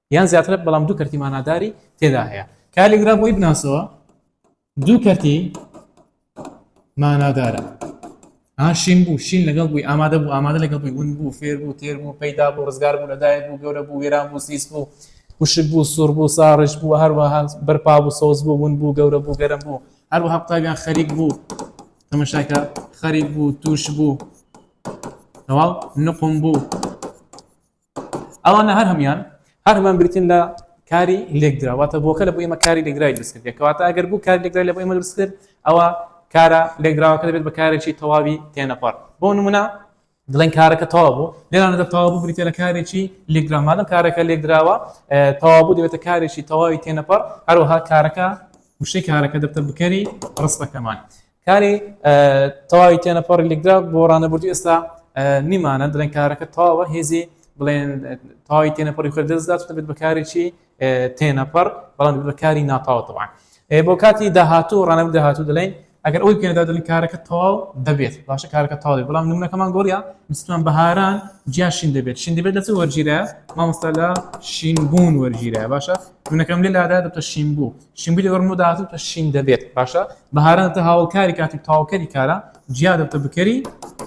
[SPEAKER 1] یان زیاترە بەڵام دوو کەرتی ماناداری تێدا هەیە کالیگرا بۆی بناسەوە دوو کەرتی مانادارە شین بوو شین لەگەڵ بووی ئامادە بوو ئامادە لەگەڵ بووی ون بوو فێر بوو تێر بوو پەیدا بوو ڕزگار بوو لەدایک بوو گەورە بوو وێران بوو سیس بوو وشک بوو سوور بوو ساڕش بوو هەروەها بەرپا بوو سۆز بوو ون بوو گەورە بوو گەرم بوو هەروەها قوتابیان خەریک بوو تەمەشاکە خەریک بوو توش بوو تەواو نقم بوو ئەوانە هەر هەموویان هەر هەمان بریتین لە کاری لێکدرا واتە بۆکە لە بۆ ئێمە کاری لێکدرای دروست کردێ کەواتە ئەگەر بوو کاری لێکدرای لە بۆ ئێمە دروست کرد ئەوە کارە لێکدراوەکە دەبێت بە کارێکی تەواوی تێنەپەڕ بۆ نمونە دڵێن کارەکە تەوا بوو لێرانەدا تەوابوو بریتە لە کارێکی لێکدرامادەم کارەکە لێکدراوە تەوابوو دەبێتە کارێکی تەواوی تێنەپەڕ هەروەها کارەکە وشەی کارەکە دەبتە بکەری ڕستەکەمان کاری تەواوی تێنەپەڕی لێکدا بۆ ڕانەبردوو ئێستا نیمانە دەڵێن کارەکە تەواوە هێزی بڵێن تەواوی تێنەپەڕی خۆ دەستدات دەبێت بەکارێکی تێنەپەڕ بەڵام بەکاری ناتاوە تەوان بۆ کاتی داهاتوو ڕانەبوو داهاتوو دەڵێن ئەگەر ئەوی پێدا دەڵێن کارەکە تەواو دەبێت باشە کارەکە تاڵێ بەڵام نمونەکەمان گۆڕیا مستمان بەهاران جیاشین دەبێت شین دەبێت لەچ وەرگیرە مامۆستا لە شینبوون وەرگیرە باشە منەکەم لێ لادا دەبتە شین بوو شینگوی لەگەڵ ڕمۆ داهاتوو کە شین دەبێت باشە بەهاران تە هاوڵکاری کاتی تاوکەری کارە جیا دەبتە بکەری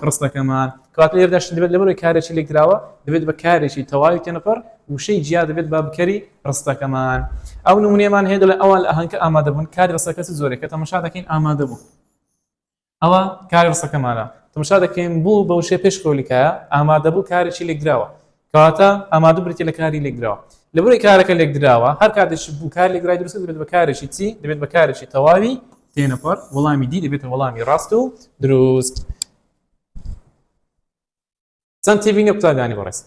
[SPEAKER 1] ڕستەکەمان کات لێردا شین دەبێت لەبەرەوەی کارێکی لێکدراوە دەبێت بە کارێکی تەواوی تێنەپەر وشەی جیا دەبێت بە بکەری ڕستەکەمان ئەو نمونێمان هەیە لە ئەوان لە ئەهنکە ئامادەبوون کاری ڕستەکەس زۆرێکە تەمەشا دەکەین ئامادەبوو ئەوە کاری ڕسەکەمانە تمشا دەکەین بوو بە وشێ پێش کۆلیکایە ئامادەبوو کارێکی لێکدراوە کەواتە ئامادە بریتە لە کاری لێکدراوە لەبەر کارەکە لێکدراوە هەر کاتێک بوو کار لێکدرای درست دەبێت بە کارێکی چی دەبێت بە کارێکی تەواوی تێنەپەر وەڵامی دی دەبێتە وەڵامی ڕاست و دروست. چەند تێبینی قوتابیانی بەڕێز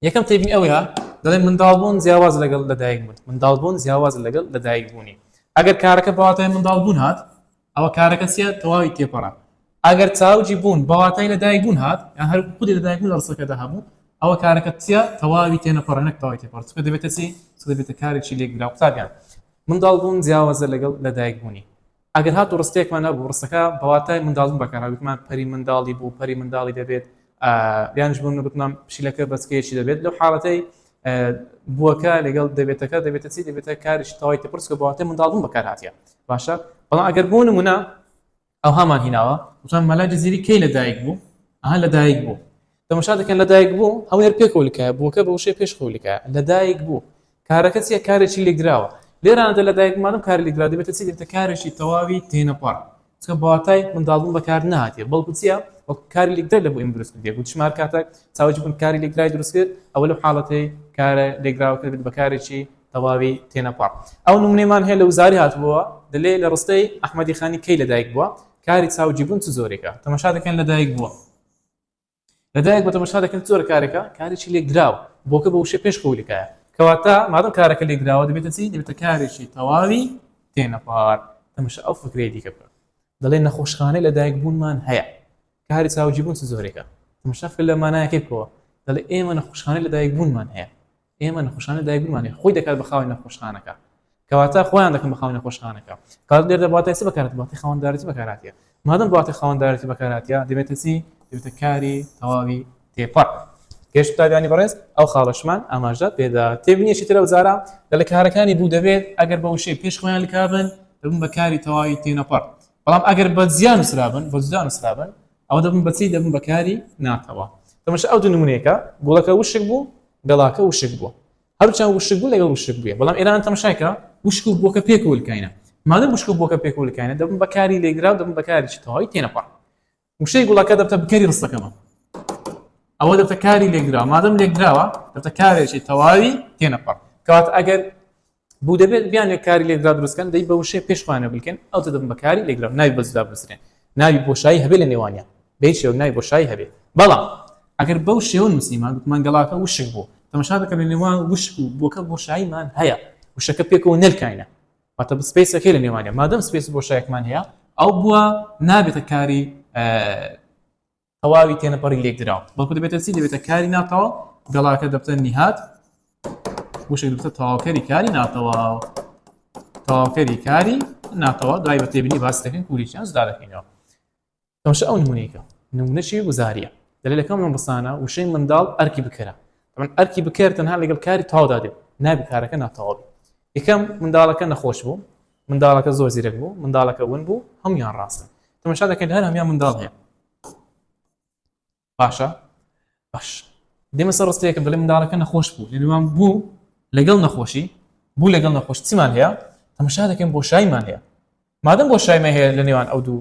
[SPEAKER 1] یەکەم تێبینی ئەوەیە دەڵێن منداڵبوون جیاواز لەگەڵ لەدایک بوون منداڵبوون جیاواز لەگەڵ لەدایک بوونی ئەگەر کارەکە بەواتای منداڵبوون هات ئەوە کارەکە چیە تەواوی تێپەڕە ئەگەر چاوجی بوون بەواتای لەدایک بوون هات یا هەر خودی لەدایک بوون ڕسەکەدا هەبوو ئەوە کارەکە چیە تەواوی تێنەپەڕێنەک تەواوی تێپەڕ چکە دەبێتە چی دەبێتە کارێکی لێکدرا قوتابیان منداڵبوون جیاوازە لەگەڵ لەدایک بوونی ئەگەر هاتوو ڕستەیەکمان هەبوو ڕستەکە بە واتای منداڵبوون بەکارهات گوتمان پەری منداڵی بوو پەری منداڵی دەبێت یانش بوون گوتمان پشیلەکە بەچکەیەکی دەبێت لەو حاڵەتەی بووەکە لەگەڵ دەبێتەکە دەبێتە چی دەبێتە کاریش تەواوی تەپرس کە بەواتە منداڵبوون بەکار هااتە باشە بەڵام ئەگەر بوون منە ئەوهامان هیناوە وتان مەلا جززیری کەی لەدایک بوو ئەها لەدایک بوو تەمەشا دەکەن لەدایک بوو هەوێر پێ کۆلکە بووکە بە وشەی پێش خولکە لەدایک بوو کارەکە چیە کارێکی لێکدراوە لێرانەدا لەدایک مادەم کار لێکدرا دەبێتە چی دەبێتە کارێکی تەواوی تێنەپەڕ چکە بەواتای منداڵبوون بەکار نهاتێ بەڵکو چیە وەک کاری لێکدرا لە بۆ ئێمە دروست کردێ گوت شمار کاتێک چاوەکی بن کاری لێکدرای دروست کرد ئەوە لەو حاڵەتەی کارە لێکدراوە کرد بە کارێکی تەواوی تێنەپەڕ ئەو نمونەمان هەیە لە وزاری هاتبووە دەلێ لە ڕستەی ئەحمەدی خانی کەی لەدایک بووە کاری چاوجیبوون چ زۆرێکە تەمەشا دەکەن لەدایک بووە لەدایک بە تەمەشا دەکەن چۆرە کارەکە کارێکی لێکدراوە بۆکە بە وشە پێش خۆلکایە کەواتە مادەم کارەکە لێکدراوە دەبێتە چی دەبێتە کارێکی تەواوی تێنەپار تەمەشە ئەو فکرەیە دیکە بکە دەڵێن نەخۆشخانەی لەدایک بوونمان هەیە کاری چاوجی بوون چ زۆرێکە تەمەشەفکە لە مانایەکەی بکەوە دەڵێ ئێمە نەخۆشخانەی لەدایک بوونمان هەیە ئێمە نەخۆشانە دایک بمانێ خۆی دەکات بە خاوەنی نەخۆشخانەکە کەواتە خۆیان دەکەن بە خاوەنی نەخۆشخانەکە کات لێر دەباتای چ بەکارەت باتی خاوەندارەتی بەکاراتە مادەم باتی خاوەندارەتی بەکاراتە دەبێتە چی دەبێتە کاری تەواوی تێپەڕ گەشت تاویانی بەڕێز ئەو خاڵەشمان ئاماژدات پێدا تێبنیەکی ترە وزارە لە لە کارەکانی بوو دەبێت ئەگەر بە وشەی پێش خۆیان لکبن دەبن بە کاری تەواوی تێنەپەڕ بەڵام ئەگەر بە زیان سرابن بە زیان سرابن ئەوە دەبن بە چی دەبن بەکاری ناتەوە تەمەشە ئەو دوو نمونەیەکە گوڵەکە وشک بوو گەڵاکە وشک بووە هەرچان وشک بوو لەگەڵ وشک بووە بەڵام ئێران تەمەشایکە وشک و بۆکە پێکولکینە مادە وشک و بۆکە پێکولکینە دەبن بەکاری لێگرا دەبن بەکاری تەواوی تێنەپا وشەی گوڵەکە دەبتە بکەری ڕستەکەمە ئەوە دەبتە کاری لێگرا مادەم لێگراوە دەبتە کارێکی تەواوی تێنەپا کات ئەگەر بوو دەبێت بیانێ کاری لێکدرا دروستکەن دەی بە وشەیە پێش خۆیانە بلکێن ئەوتە دەبن بە کاری لێکدرا ناوی بە جودا بنووسرێن ناوی بۆشایی هەبێ لە نێوانیان بە هیچ شێوەک ناوی بۆشایی هەبێ بەڵام ئەگەر بەو شێوە نووسیمان گوتمان گەڵاکە وشک بوو تەمەشا دەکەن لە نێوان وشک و بۆکە بۆشاییمان هەیە وشەکە پێکەوە نەلکاینە واتە بسپیسەکەی لە نێوانە مادەم سپیس بۆشایەکمان هەیە ئەو بووە نابێتە کاری تەواوی تێنەپەڕی لێکدراو بەڵکو دەبێتە چی دەبێتە کاری ناتەواو گەڵاکە دەبتە نیهات وشک دەبتە تەواوکەری کاری ناتەواو تەواوکەری کاری ناتەوا دوای بە تێبنی باس دەکەین کوریشیان جدا دەکەینەوە تەمشە ئەو نمونێکە نمونەشی گوزاریە دەلێ لەکەم من بسانە وشەی منداڵ ئەرکی بکەرە من ئەرکی بکەر تەنها لەگەڵ کاری تاودا دێت نابی کارەکە ناتەواوی یەکەم منداڵەکە نەخۆش بوو منداڵەکە زۆر زیرەک بوو منداڵەکە ون بوو هەمویان ڕاستن تەمەشا دەکەین هەر هەمیان منداڵ هەیە باشە باش دێمە سەر ڕستەیەکم دەڵێ منداڵەکە نەخۆش بوو لەنوان بوو لەگەڵ نەخۆشی بوو لەگەڵ نەخۆش چیمان هەیە تەمەشا دەکەین بۆ شایمان هەیە مادەم بۆ شایمە هەیە لە نێوان ئەو دوو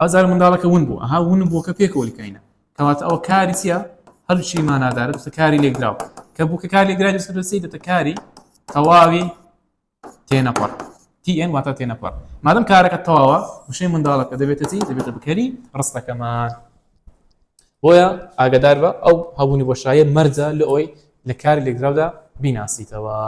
[SPEAKER 1] ئەو جارە منداڵەکە ون بوو ئەها ون بووکە پێکەوە لکاینە کەواتە ئەوە کاری چیە هەلوشی مانادارە دوسە کاری لێکدراو کە بووکە کار لێکدرای دوسە دەسی دەتە کاری تەواوی تێنەپەڕ TN واتە تێنەپەڕ مادەم کارەکە تەواوە وشەی منداڵەکە دەبێتە چی دەبێتە بکەری ڕستەکەمان بۆیە ئاگدار بە ئەو هەبوونی بۆشایە مەرجە لە ئەوی لە کاری لێکدراودا بیناسیتەوە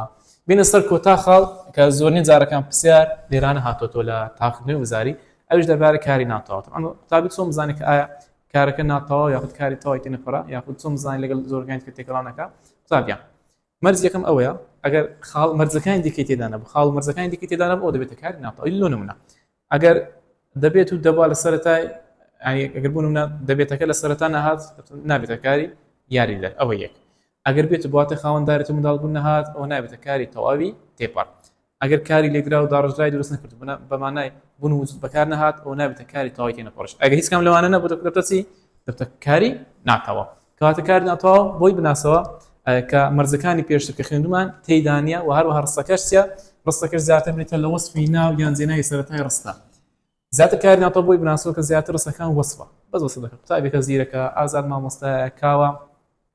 [SPEAKER 1] بینە سەر کۆتا خاڵ کە زۆرنی جارەکان پرسیار لێرانە هاتۆتۆ لە تاقدنەوەی وزاری ئەوش دەربارە کاری ناتەواوتم ئەم قوتابی چۆن بزانێت کە ئایا کارەکە ناتەواو یاخود کاری تەواوی تێ نەپەرا یاخود چۆن بزانین لەگەڵ زۆرگەیان کە تێکەڵانەکە قوتابیان مەرز یەکەم ئەوەیە ئەگەر خاڵ مەرزەکانی دیکەی تێدانە بە خاڵ مەرزەکانی دیکە تێدانە بۆ دەبێتە کاری ناتەواوی لۆ نمونە ئەگەر دەبێت و دەبا لە سەرەتای ئەگەر بوون منە دەبێتەکە لە سەرەتا نەهات نابێتە کاری یاری دەر ئەوە یەک ئەگەر بێت و بواتە خاوەن دارێت و منداڵ بوون نەهات ئەوە نابێتە کاری تەواوی تێپەڕ ئەگەر کاری لێکدرا و داڕێژراوی دروست نەکرد و بنا بە مانای بوون و وجود بەکار نەهات ئەوە نابێتە کاری تەواوی تێنەپەڕش ئەگەر هیچ کام لەوانە نەبوو دەبێتە دەبتە چی دەبتە کاری ناتەواو کەواتە کاری ناتەواو بۆی بناسەوە کە مەرزەکانی پێشتر کە خوێندومان تێیدا نییە و هەروەها ڕستەکەش چیە ڕستەکەش زیاتر بریتە لە وەسفی ناو یان جێناوی سەرەتای ڕستە زیاتر کاری ناتەواو بۆی بناسەوە کە زیاتر ڕستەکان وەسفە بەس وەسف دەکە قوتابێکە زیرەکە ئازاد مامۆستایە کاوە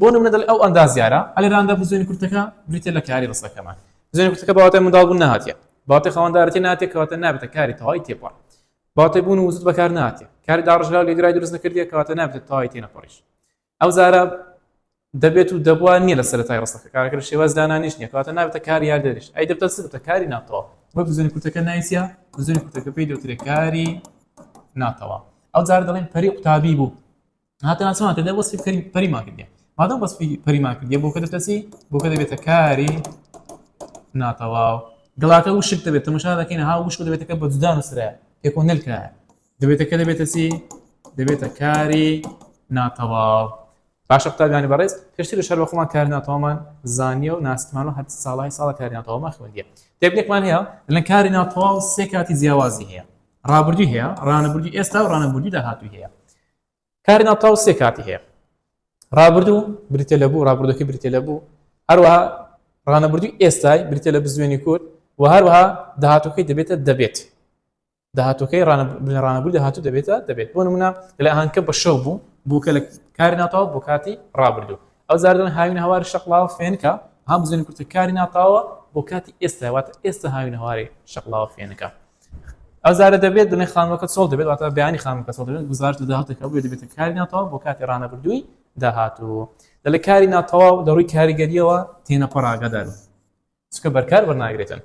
[SPEAKER 1] بۆ نمونە دەڵێ ئەو ئەندازیارە ە لە راندا بزوێنە کورتەکە بریتیە لە کاری رستەکەمان. بزوێنە کورتەکە بە واتای منداڵ بوون نهاتیە، بە واتای خاوەندارێتی نهاتیە کە واتە نابێتە کاری تەوای تێپەڕ. بە واتای بوون و وجود بەکار نهاتیە. کاری داڕژراو لێگرای دروست نەکردیە کە واتە نابێتە تەوای تێنەپەڕیش. ئەو زارە دەبێت و دەبوا نیە لە سەرەتای رستەکە. کارەکە لە شێواز دانانیش نیە کە واتە نابێتە کاری یاریدەریش. ئەی دەبتە چ؟ دەبتە کاری ناتەواو. بۆیە بزوێنە کورتەکە ناوی چیە؟ بزوێنە کورتەکە پێی دەوترێ کاری ناتەواو. ئەو زارە دەڵێن پەری قوتابی بوو. هاتنا چمان کردە وەسفی کەری پەریمان کردە مادەم وەسفی پەریمان کردە بۆکە دەتەسی بۆکە دەبێتە کاری ناتەواو گڵاکە وشک دەبێت تەمەشا دەکەین ها وشک دەبێتەکە بە جودا نووسرە پێکۆ نلکرا دەبێتەکە دەبێتە چی دەبێتە کاری ناتەواو باشە قوتابیانی بەڕێز پێشتر لە شەر بە خۆمان کار ناتەوامان زانیە و ناسمان و هەر ساڵی ساڵە کاری ناتەوامان خوێندیە تێبلێکمان هەیە لە کاری ناتەواو سێ کاتی جیاوازی هەیە ڕابردوی هەیە ڕانەبردی ئێستا و ڕانەبردی داهاتوی هەیە کاری ناوبراو سێ کاتی هەیە ڕابردوو بریتە لە بوو ڕابردوەکە بریتە لە بوو هەروەها ڕانەبردوی ئێستای بریتە لە بزوێنی کورد و هەروەها داهاتەکەی دەبێتە دەبێت داهاتەکەی ڕانەبوو داهاتوو دەبێتە دەبێت بۆ نمونە لە ئاهانکە بە شەو بوو بووکە لە کاری ناتەوە بۆ کاتی ڕابردوو ئەو جار دەڵێن هاوین هەواری شەقڵاوە فێنکە، هەم بزانین کورتە کاری ناپاوە بۆ کاتی ئێستا واتە ئێستا هاوین هەواری شەقڵاوە فێنکە. ئەو جارە دەبێت دڵێ خانمەکە چۆڵ دەبێت واتە بیانی خانمەکە چۆڵ دەبێت گوزارش لە داهاتێکەکە بێت دەبێت کاری ناتەوە بۆ کاتی ڕانەبردووی داهاتوو دەلێ کاری ناتەواو لە ڕووی کاریگەریەوە تێنەپەڕ ئاگادارن چکە بەرکار بەرناگرێتن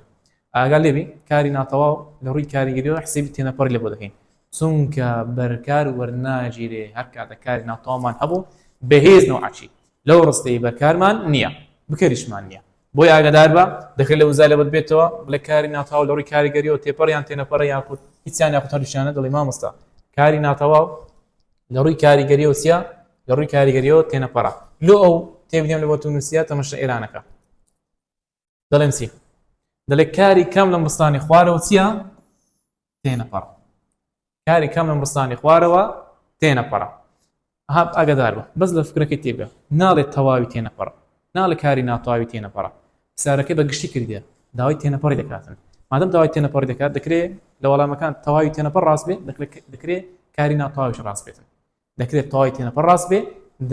[SPEAKER 1] ئاگا لێبی کاری ناتەواو لە ڕووی کاریگەریەوە حسیبی تێنەپەر لە بۆ دەکەین چونکە بەرکار وەرناگیرێ هەر کاتە کاری ناتەوامان هەبوو بەهێز نەوەچی لەو ڕستەی بەرکارمان نییە بکەریشمان نییە بۆی ئاگدار بە دەکرێت لە وزا لە بەت بێتەوە بڵێ کاری ناتاو لە ڕووی کاریگەریەوە تێپەڕیان تێنەپەڕ یاخود هیچیان یاخود هەریشانە دڵی مامۆستا کاری ناتەواو لە ڕووی کاریگەریەوە سیا لە ڕووی کاریگەریەوە تێنەپەڕە لۆ ئەو تێبیان لە بۆ تونوسیا تەمەشە ئێرانەکە دەڵێن چی دەڵێ کاری کەم لە مستانی خوارەوە چییە تێنەپەڕ کاری کەم لە مستانی خوارەوە تێنەپەڕە هاب ئاگدار بە بەس لە فکرەکەی تێبگە ناڵێت تەواوی تێنەپەڕ ناڵە کاری ناتەواوی تێنەپەڕە سارەکەی بە گشتی کردە داوای تێنەپەڕی دەکاتن مادەم داوای تێنەپەڕ دەکات دەکرێت لە وەڵامەکان تەواوی تێنەپەڕ ڕاست بێت دەکرێت کاری ناتەواویش ڕاست بێتن دەکرێت تەواوی تێنەپەڕ ڕاست بێ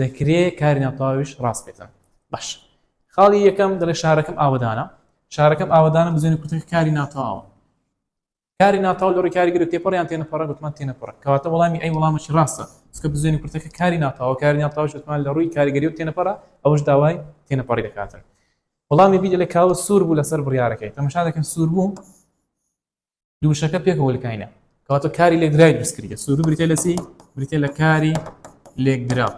[SPEAKER 1] دەکرێت کاری ناتەواویش ڕاست بێتن باش خاڵی یەکەم دەڵێ شارەکەم ئاوەدانە شارەکەم ئاوەدانە بزانێت کوتەکە کاری ناتەواوە کاری ناتەواو لە ڕێکاری گرێت تێپەڕیان تێنەپەڕە گوتمان تێنەپەڕ کەواتە وەڵامی ئەی وەڵامەکی ڕاستە چکە بزانێت کوتەکە کاری ناتەواو کاری ناتەواو شتمان لە ڕووی کاریگەری و تێنەپەڕە ئەوش داوای تێنەپەڕی دەکاتن وەڵامی بیدە لە کاوە سوور بوو لەسەر بڕارەکەی تەمەشا دەکەن سوور بوو دووشەکە پێکەوە لکاینە کەواتە کاری لێکدراوی دروست کردە سوورو بریتە لە چی بریتە لە کاری لێکدراو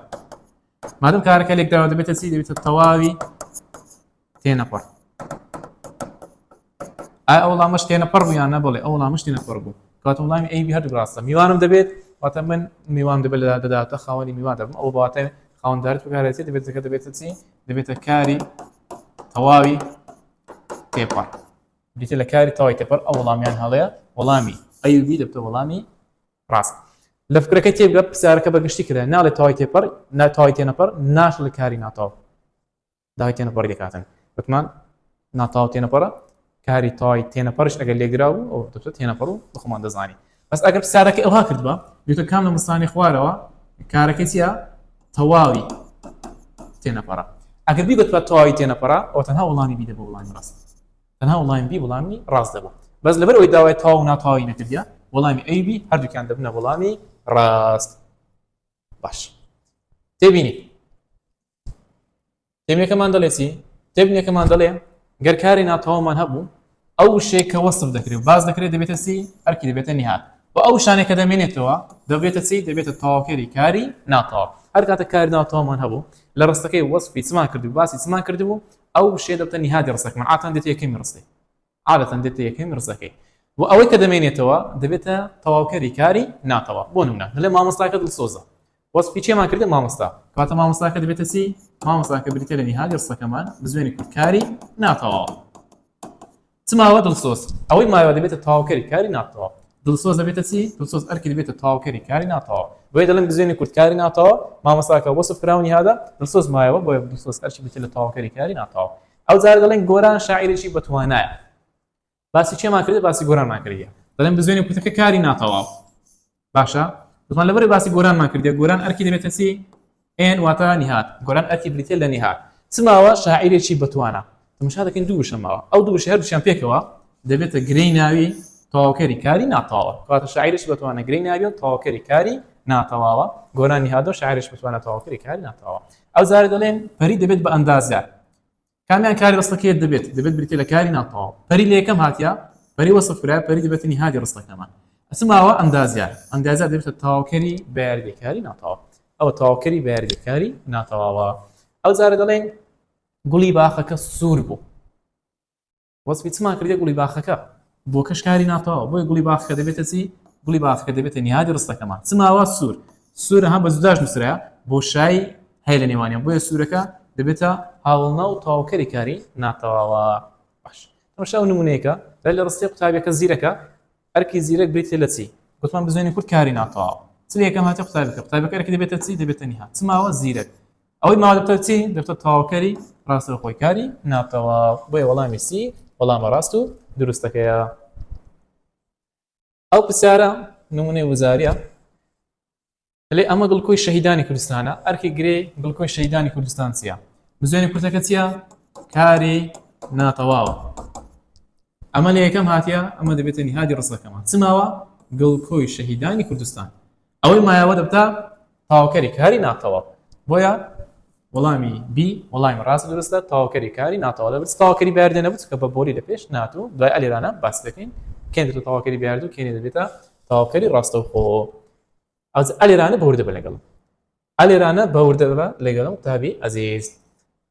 [SPEAKER 1] مادەم کارەکە لێکدراوە دەبێتە چی دەبێتە تەواوی تێنەپەڕ ئای ئەو وڵامەش تێنەپەڕ بوویان نەبڵێ ئەو وڵامش تێنەپەڕ بوو کات وڵامی ئەی هەر ڕاستە میوانم دەبێت واتە من میوان دەبێت لە دەداتە خاوەنی میوان دەبم ئەو باتە خاوەنددارت بگارێتی دەبێت دەکە دەبێتە چی دەبێتە کاری تەواوی تێپەڕ بیتە لە کاری تەوای تێپەر ئەو وەڵامیان هەڵەیە وەڵامی ئەیوبی دەبتە وەڵامی ڕاست لە فکرەکە تێبگە پرسیارەکە بە گشتی کرا ناڵێ تەوای تێپەر ناتەوای تێنەپەر ناش لە کاری ناتاو داوای تێنەپەڕی دەکاتن وتمان ناتاو تێنەپەڕە کاری تەوای تێنەپەرش ئەگەر لێگرا بوو ئەو دەبتە تێنەپەڕ و بخۆمان دەزانی بەس ئەگەر پرسیارەکەی ئەوها کردبا بیتە کام لە مستانی خوارەوە کارەکە چیە تەواوی تێنەپەڕە ئەگەر بی بەتوات تەواوی تێنەپەڕە ئەو تەنها وڵامی بیدە بە وڵامی ڕاست تەنها وڵامی بی وڵامی ڕاست دەبوو بەس لەبەر ئەوی داوای تاو ناتاوی نەکردە وەڵامی ئەی بی هەردووکیان دەبنە وەڵامی ڕاست باش تێبینی تێبنیەکەمان دەڵێ چی تێبنیەکەمان دەڵێ گەر کاری ناتەواومان هەبوو ئەو شێک کە وەسف دەکرێت باز دەکرێت دەبێتە سی ئەرکی دەبێتە نهات و ئەو شانێکە دەمێنێتەوە دەبێتە چی دەبێتە تەواوکەری کاری ناتەواو هەر کاتە کاری ناتەواومان هەبوو لە ڕستەکەی وەسفی چمان کردو باسی چمان کردبوو ئەو شێ دەبتە نهادی ڕستەکەمان ئاتان دێتە یەکەمی ڕستەی عادەتەن دێتە یەکەم ڕزەکەی و ئەوەی کە دەمێنێتەوە دەبێتە تەواوکەری کاری ناتەواو بۆ نمونە دەڵێ مامۆستاکە دڵسۆزە وەسفی چێمان کردە مامۆستا کەواتە مامۆستاکە دەبێتە چی مامۆستاکە بریتە لە نیهالی ڕسەکەمان بزوێنی کورد کاری ناتەواو چماوە دڵسۆز ئەوەی ماوە دەبێتە تەواوکەری کاری ناتەواو دڵسۆز دەبێتە چی دڵسۆز ئەرکی دەبێتە تەواوکەری کاری ناتەواو بۆیە دەڵێن بزوێنی کورد کاری ناتەواو مامۆستاکە وەسف کراونی هادا دڵسۆز مایەوە بۆیە دڵسۆز ئەرکی بریتە لە تەواوکەری کاری ناتەواو ئەو جار دەڵێن گۆران شاعیرێکی بەتوانایە باسی چێمان کردێت باسی گۆرانمان کردە دەڵێن بزوێنی کوتەکە کاری ناتەواو باشە بزان لەبەر باسی گۆرانمان کردێت گۆران ئەرکی دەبێتە چی ئێن واتە نهات گۆران ئەرکی بریتە لە نهات چماوە شاعیرێکی بەتوانە تمشا دەکەین دوو شەماوە ئەو دوو شهر دوشیان پێکەوە دەبێتە گرێی ناوی تەواوکەری کاری ناتەواوە کاتە شاعرش بەتوانە گرێی ناوی و تەواوکەری کاری ناتەواوە گۆرانی هادۆ شاعرش بتوانە تەواوکەری کاری ناتەواوە ئەو زارە دەڵێن پەری دەبێت بە ئەندازە کامیان کاری ڕستەکەیت دەبێت دەبێت بریتە لە کاری ناتەواو پەری لە یەکەم هااتیا پەری وەسفکرای پەری دەبێتنی هادی ڕستەکەمان ئەسماوە ئەندازیار ئەندازە دەبێتە تاوکەری بەردێکاری ناتەواو ئەو تاوکەری بەردێکاری ناتەواوە ئەو زارە دەڵێن گوڵی باخەکە سوور بوو وەسفی چمان کردە گوڵی باخەکە بۆکەش کاری ناتەواوە بۆی گوڵی باخەکە دەبێتە چی گوڵی باخەکە دەبێتە نیادی ڕستەکەمان چماوە سوور سوورە هەم بە زوداش نووسرا بۆ شای هەیە لە نێوانیان بۆیە سوورەکە دەبێتە هاوڵنا و تاوکەری کاری ناتەواوە باش تەمەشا و نمونەیەەکە بە لە ڕستی قوتابەکە زیرەکە ئەرکی زیرەک بریت لە چی گوتمان بزانین کورد کاری ناتەواوە چ یەکەم هاتی قوتابەکە قوتابەکە ئەرکی دەبێتە چی دەبێتە نیها چماوە زیرەک ئەوەی ماوە دەبتە چی دەبتە تەواوکەری ڕاستەوخۆی کاری ناتەوا بۆیە وەڵامی سی وەڵامە ڕاست و دروستەکەیە ئەو پرسیارە نمونەی وزاریە لێ ئەمە گڵکۆی شەهیدانی کوردستانە ئەرکی گرێ گڵکۆی شەیدانی کوردستان چیە بزوێنی کوردەکە چیە کاری ناتەواوە ئەمە لە یەکەم هااتە ئەمە دەبێتە نهادی ڕستەکەمان چماوە گڵکۆی شەهیدانی کوردستان ئەوەی مایەوە دەبتە تەواوکەری کاری ناتەواو بۆیە وەڵامی بی وەڵامی ڕاست دروستە تەواوکەری کاری ناتەواو دەبێت تەواوکەری بەر دێنەبوو کە بە بۆلی لە پێش نات و دوای ئەلێرانە باس دەکەین کێن دەبێت تەواوکەری بەردوو کێنێ دەبێتە تەواوکەری ڕاستەوخۆ ئەو ئەلێرانە بەوردە بە لەگەڵ ئالێرانە بەوردە ببە لەگەڵ قوتابی ئەزیز.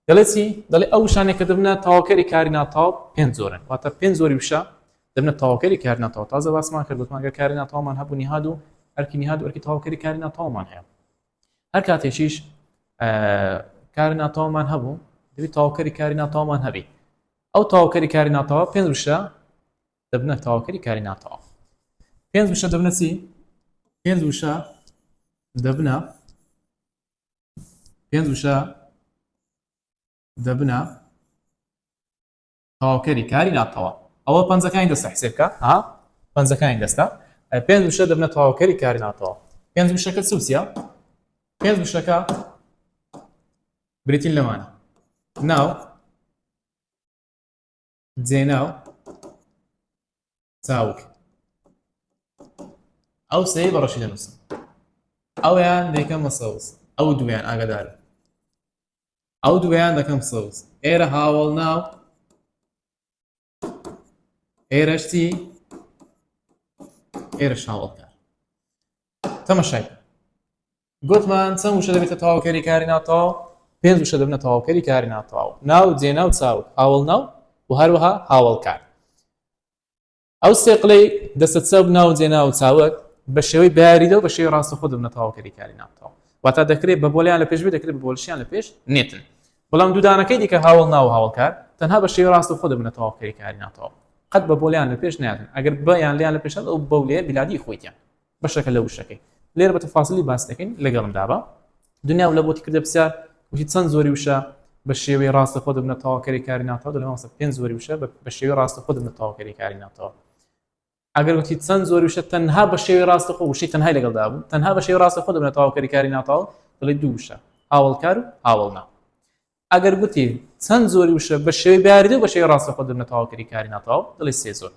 [SPEAKER 1] دەڵێ چی؟ دەڵێ ئەو وشانێک کە دەبنە تەواوکەری کاری ناتەواو پێنج جۆرن، واتە پێنج جۆری وشە دەبنە تەواوکەری کاری ناتەواو. تازە باسمان کرد گوتمان گەر کاری ناتەواومان هەبوو نیهاد و ئەرکی نیهاد و ئەرکی تەواوکەری کاری ناتەواومان هەیە. هەر کاتێکیش کاری ناتەواومان هەبوو دەبی تەواوکەری کاری ناتەواومان هەبی. ئەو تەواوکەری کاری ناتەواو پێنج وشە دەبنە تەواوکەری کاری ناتەواو پێنج وشە دەبنە چی پێنج وشە دەبنە پێنج وشە دەبنە تەواوکەری کاری ناتەوا ئەوە پەنجەکانی دەستە حسێبکە ها پەنجەکانی دەستە پێنج وشە دەبنە تەواوکەری کاری ناتەوا پێنج وشەکە سوسە پێنج وشەکە بریتین لەمانە ناو جێناو چاوک ئەو سەی بەڕەشی دەنووسم ئەویان دەکەمە سەوز ئەو دویان ئاگدار ئەو دویان دەکەم سەوز ئێرە هاوڵ ناو ئێرەشتی ئێرە شاوەڵکار تەمەشای گوتمان چەند وشە دەبێتە تەواوکەری کاری ناتەواو پێنج وشە دەبنە تەواوکەری کاری ناتەواو ناو جێناو چاو هاوڵناو و هەروەها هاوڵکار ئەو سێقلەی دەستە چەپ ناو جێناو چاوک بە شێوەی باریدە و بە شێوی ڕاستە خۆ دەبنە تەواوکەری کاری ناتەواو واتا دەکرێت بە بۆلیان لە پێش بێ دەکرێت بە بۆلشیان لە پێش نێتن بەڵام دوودانەکەی دیکە هاوڵ ناو هاوڵکار تەنها بە شێوی ڕاست و خۆ دەبنە تەواوکەری کاری ناتەواو قەت بە بۆلیان لە پێش ناتن ئەگەر بەیان لیان لە پێشە ئەو بەولێ بلادی خۆیتیان بەشەکە لە وشەکەی لێرە بە تەفاسلی باس دەکەین لەگەڵم دابە دنیا و لە بۆتی کردە پرسیار وتی چەند زۆری وشە بە شێوەی ڕاستە خۆ دەبنە تەواوکەری کاری ناتەوە دەمەسە پێنج زۆری وشە بە شێوەی ڕاستە خۆ دەبنە تەواوکەری کاری ناتەوە ئەگەر وتی چەند زۆری وشە تەنها بە شێوەی ڕاستە خۆ وشەی تەنهای لەگەڵدا بوو تەنها بە شێوەی ڕاستە خۆ دەبنە تەواوکەری کاری ناتەوە دەڵێ دوو وشە هاوڵکار و هاوڵنا ئەگەر گوتی چەند زۆری وشە بە شێوی بیاریدە بە شێوی ڕاستە خۆ دەبنەتەواو کەری کاری ناتەواو دڵی سێ زۆر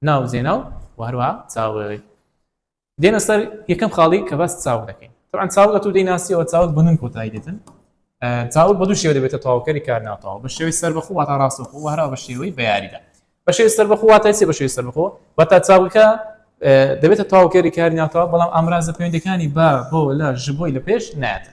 [SPEAKER 1] ناو زێناو و هەروە چاوەوەی دێنە سەر یەکەم خاڵی کە باس چاو دەکەین طبعا چاوگە تو دەیناسیەوە چاوت بنون کۆتایی دێتن چاوت بە دوو شێوە دەبێتە تەواوکەری کار ناتەواو بە شێوی سەر بەخۆ واتە ڕاستە خۆ هەرا بە شێوەی بەیاریدا بە شێوی سەر بەخۆ واتە چێ بە شێوی سەر بەخۆ بە تا چاوگەکە دەبێتە تەواوکەری کاری ناتەواو بەڵام ئامرازە پەیوەندەکانی با بۆ لە ژبۆی لە پێش ناتە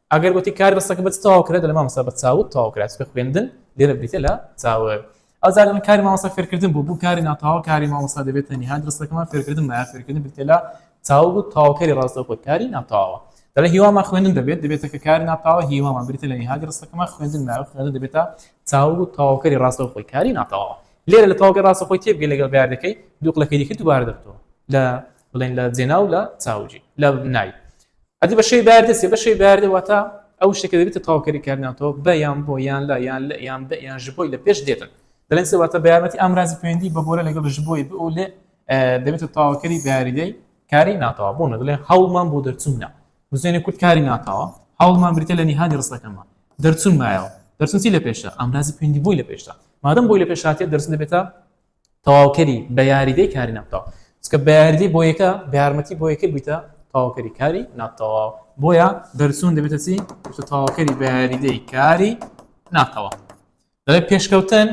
[SPEAKER 1] ئەگەر گوتی کار بەسەکە بەچ تەواو کرێت لە مامۆستا بە چاوت تەواو کرات کە خوێندن لێرە بریتە لە چاوە ئەزار من کاری مامۆستا فێرکردن بوو بوو کاری ناتەواو کاری مامۆستا دەبێت تەنها درستەکەمان فێرکردن مایە فێرکردن بریتە لە چاو بوو تەواوکەری ڕاستە خۆت کاری ناتەواوە دەڵێ هیوامان خوێندن دەبێت دەبێتە کە کاری ناتەواوە هیوامان بریتە لە نهادی ڕستەکەمان خوێندن مایە خوێندن دەبێتە چاو و تەواوکەری ڕاستە خۆی کاری ناتەواوە لێرە لە تەواوکە ڕاستە خۆی تێبگە لەگەڵ بەیاردەکەی دووقلەکەی دیکە دووبارە دەبتەوە لە بڵێن لە جێناو لە چاوجی لە نای ئەدی بە شەوی بەیاردە سێ بە شەوی بەیاردە واتە ئەو شتێکە دەبێتە تاوکەری کارناتەوە بە یان بۆ یان لە یان لە یان بە یان ژ بۆی لە پێش دێتن دەڵێن سێ واتە بەیارمەتی ئامرازی پەیوەندی بە بۆرە لەگەڵ ژ بۆی بۆ لێ دەبێتە تاوکەری بەیاریدەی کاری ناتەوە بۆ نەدەڵێن هەوڵمان بۆ دەرچوونە بزێنێ کورد کاری ناتەوە هەوڵمان بریتە لە نیهانی ڕستەکەمان دەرچون مایەوە دەرچونسی لە پێشە ئامرازی پەیوەندی بۆی لە پێشە مادەم بۆی لە پێشاتێت دەرچون دەبێتە تەواوکەری بە یاریدەی کاری ناتەواو چکە بە یاریدەی بۆ یەکە بە یارمەتی بۆ یەکە بیتە تەواوکەری کاری ناتەواو بۆیە دەرچوون دەبێتە چی تەواوکەری بە یاریدەی کاری ناتەواو دەڵێ پێشکەوتن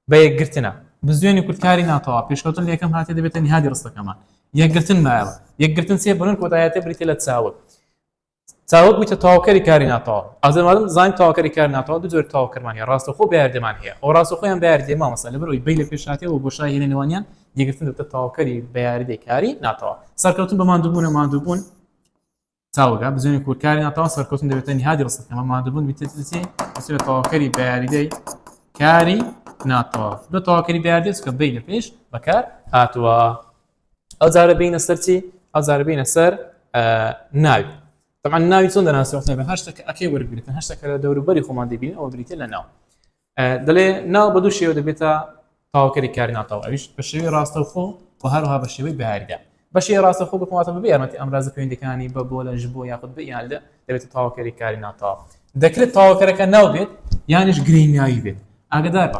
[SPEAKER 1] بە یەکگرتنە بزوێنی کوردکاری ناتەوا پێشکەوتن لە یەکەم هااتێ دەبێتە نهادی ڕستەکەمان یەکگرتن مایەوە یەکگرتن سێ بنن کۆدایەتە بریتە لە چاوک تاوەک بوویتە تەواوکەری کاری ناتەواو ئازر مادەم زانین تەواوکەری کاری ناتەواو دوو جۆر تەواوکەرمان هەیە ڕاستەوخۆ بەیاردێمان هەیە ئەو ڕاستەخۆیان بەیاردێ مامۆستا لەبەر ئەوی بەی لە پێش هاتێ و بۆشای هێنە نێوانیان یەکگرتن دەبتە تەواوکەری بەیاردەی کاری ناتەواو سەرکەوتن بە ماندووبوونە ماندووبوون تاوەگا بزوێنی کورکاری ناتەواو سەرکەوتن دەبێتە نهادی ڕستەکەمە ماندووبوون بیتەتی بسێت تەواوکەری بەیاریدەی کاری ناتەواو بە تەواوکەری بەیاردێت کە بەی لە پێش بەکار هاتووە ئەو جارە بینە سەر چی ئەو جارە بینە سەر ناوی طبعا ناوی چۆن دەناسیۆخنێ بە هەشتە کە ئەکەی وەرگتن هەشتە کە لە دەوروبەری خۆمان دەبین ئەوە بریتە لە ناو دەڵێ ناو بە دوو شێوە دەبێتە تاوکەری کاری ناتەوە ئەویش بە شێوی ڕاستەوخۆ و هەروها بە شێوەی باردا بەشی ڕاستە خۆ بکواتە بە یارمەتی ئەمراز پەیوەندەکانی بە بۆ لە ژبوو یاخود بە یاندا دەبێت تاوکەری کاری ناتاو دەکرێت تاوکەرەکە ناو بێت یانش گرینگناوی بێت ئاگدار بە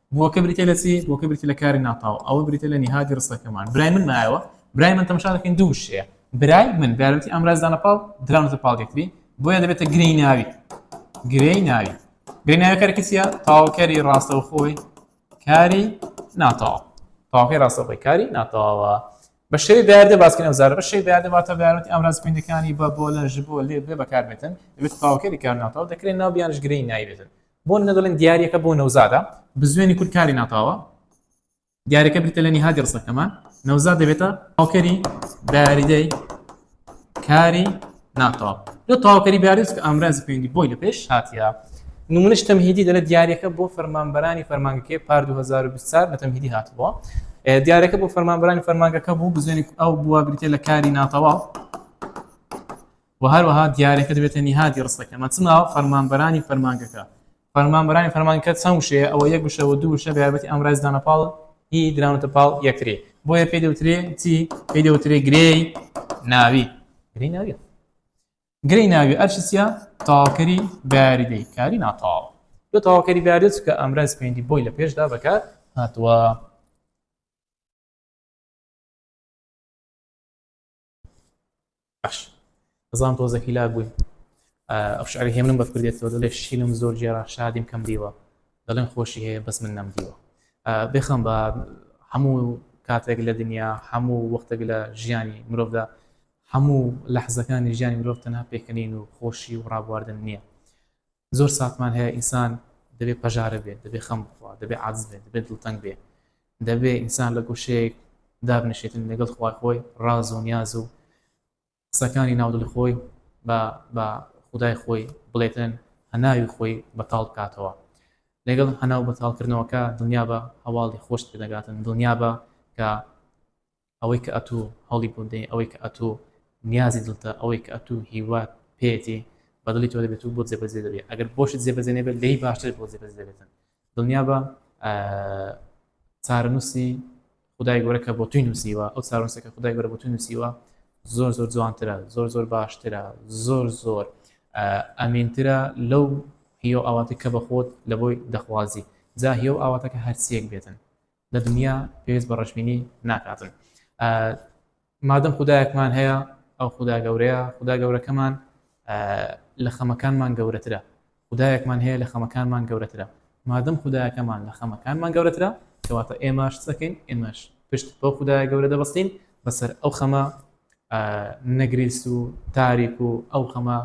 [SPEAKER 1] بووەکە بریتیە لە چی؟ بووەکە بریتیە لە کاری ناتاو، ئەوە بریتیە لە نیهادی ڕستەکەمان. برای من مایەوە، برای من تەماشا دەکەین دوو وشەیە، برای من برای من بەیارمەتی ئامراز دانە پاڵ، دراونەتە پاڵ یەکتری، بۆیە دەبێتە گرێی ناوی. گرێی ناوی. گرێی ناوی کارەکەی چییە؟ تەواوکەری ڕاستەوخۆی کاری ناتاو. تەواوکەری ڕاستەوخۆی کاری ناتاوە. بە شێوەی بەیاردە باسکەین ئەو زارە بە شێوەی بەیاردە واتە بەیارمەتی ئامراز پێندەکانی بە، بۆ، لە، ژ، بۆ، لێ، بێ بەکاربێتن، دەبێتە تەواوکەری کار ناتاو، دەکرێ ناو بیانش گرێی ناوی بێتن. بۆ نە دەڵێن دیارەکە بۆ نەوزادە بزوێنی کورد کاری ناتاوە دیارەکە بریتە لە نیهادی ڕسەکەمان نەوزاد دەبێتە هاوکەری بەیاریدەی کاری ناتاو لە تاوکەری بەیاریز کە ئامرازی پێندی بۆی لە پێش هاتیە نمونش تەمهیدی دەلە دیارەکە بۆ فەرمانبەرانی فەرمانگەکەی پار 2024 لە تەمهیدی هاتبووە دیارەکە بۆ فەرمانبرانی فەرمانگەکە بوو بزوێنی ئەو بووە بریتە لە کاری ناتەواو و هەروەها دیارەکە دەبێتە نیهادی ڕستەکە مەچما فەرمانبەرانی فەرمانگەکە فەرمانبەرانی فەرمانکە چەند وشەیە ئەوە یەک وشە و دوو وشە بە یارمەتی ئەم ڕێزدانە پاڵ هی دراونەتە پاڵ یەکتری بۆیە پێی دەوترێ چی پێی دەوترێ گرێی ناوی گرێی ناوی گرێی ناوی ئەرشی چیە تاوکەری باریدەی کاری ناتاو دو تاوکەری باریت کە ئەمراز پێنجی بۆی لە پێشدا بەکار هاتووە باش ئەزان تۆزەکی لا بووی ئەو شعری هێمنم بە کوردێتەوە دەڵێ شینم زۆر جێرا شادیم کەم دیوە دەڵێن خۆشی هەیە بەس من نەم دیوە بێخەم بە هەموو کاتێک لە دنیا هەموو وەختێک لە ژیانی مرۆڤدا هەموو لە حزەکانی ژیانی مرۆڤ تەنها پێکەنین و خۆشی و ڕابواردن نییە زۆر ساتمان هەیە ئینسان دەبێ پەژارە بێت، دەبێ خەم بخوا، دەبێ عاجز بێت، دەبێ دڵتەنگ بێ، دەبێ ئینسان لە گۆشەیەک دابنیشێتن لەگەڵ خوای خۆی ڕاز و نیاز و قسەکانی ناودڵی خۆی بە خودای خۆی بڵێتن هەناوی خۆی بەتاڵ بکاتەوە لەگەڵ هەناو بەتاڵکردنەوەکە دنیا بە هەواڵی خۆشت پێدەگاتن دنیا بە کە ئەوەی کە ئەتوو هەوڵی بۆ دەی، ئەوەی کە ئەتوو نیازی دڵتە، ئەوەی کە ئەتوو هیوات پێیەتی بە دڵی تۆ دەبێت و بۆت جێبەجێ دەبێت، ئەگەر بۆشت جێبەجێ نەبێت لێی باشتر بۆت جێبەجێ دەبێتن. دڵنیابە چارەنووسی خدای گەورە کە بۆ توی نووسیوە، ئەو چارەنووسە کە خدای گەورە بۆ توی نووسیوە زۆر زۆر جوانترە، زۆر زۆر باشترە، زۆر زۆر ئەمینترە لەو هیۆ ئاواتێک کە بەخۆت لە بۆی دەخوازی، جا هیۆ ئاواتەکە هەرچیەک بێتن. لە دنیا پێویست بە ڕەشبینی ناکاتن مادەم خودایەکمان هەیە ئەو خودا گەورەیە خودا گەورەکەمان لە خەمەکانمان گەورەترە خدایەکمان هەیە لە خەمەکانمان گەورەترە مادەم خدایەکەمان لە خەمەکانمان گەورەترە کەواتە ئێمەش دەکەین ئێمەش پشت بۆ خدای گەورە دەبستین بەسەر ئەو خەمە نەگریست و تاریک و ئەو خەمە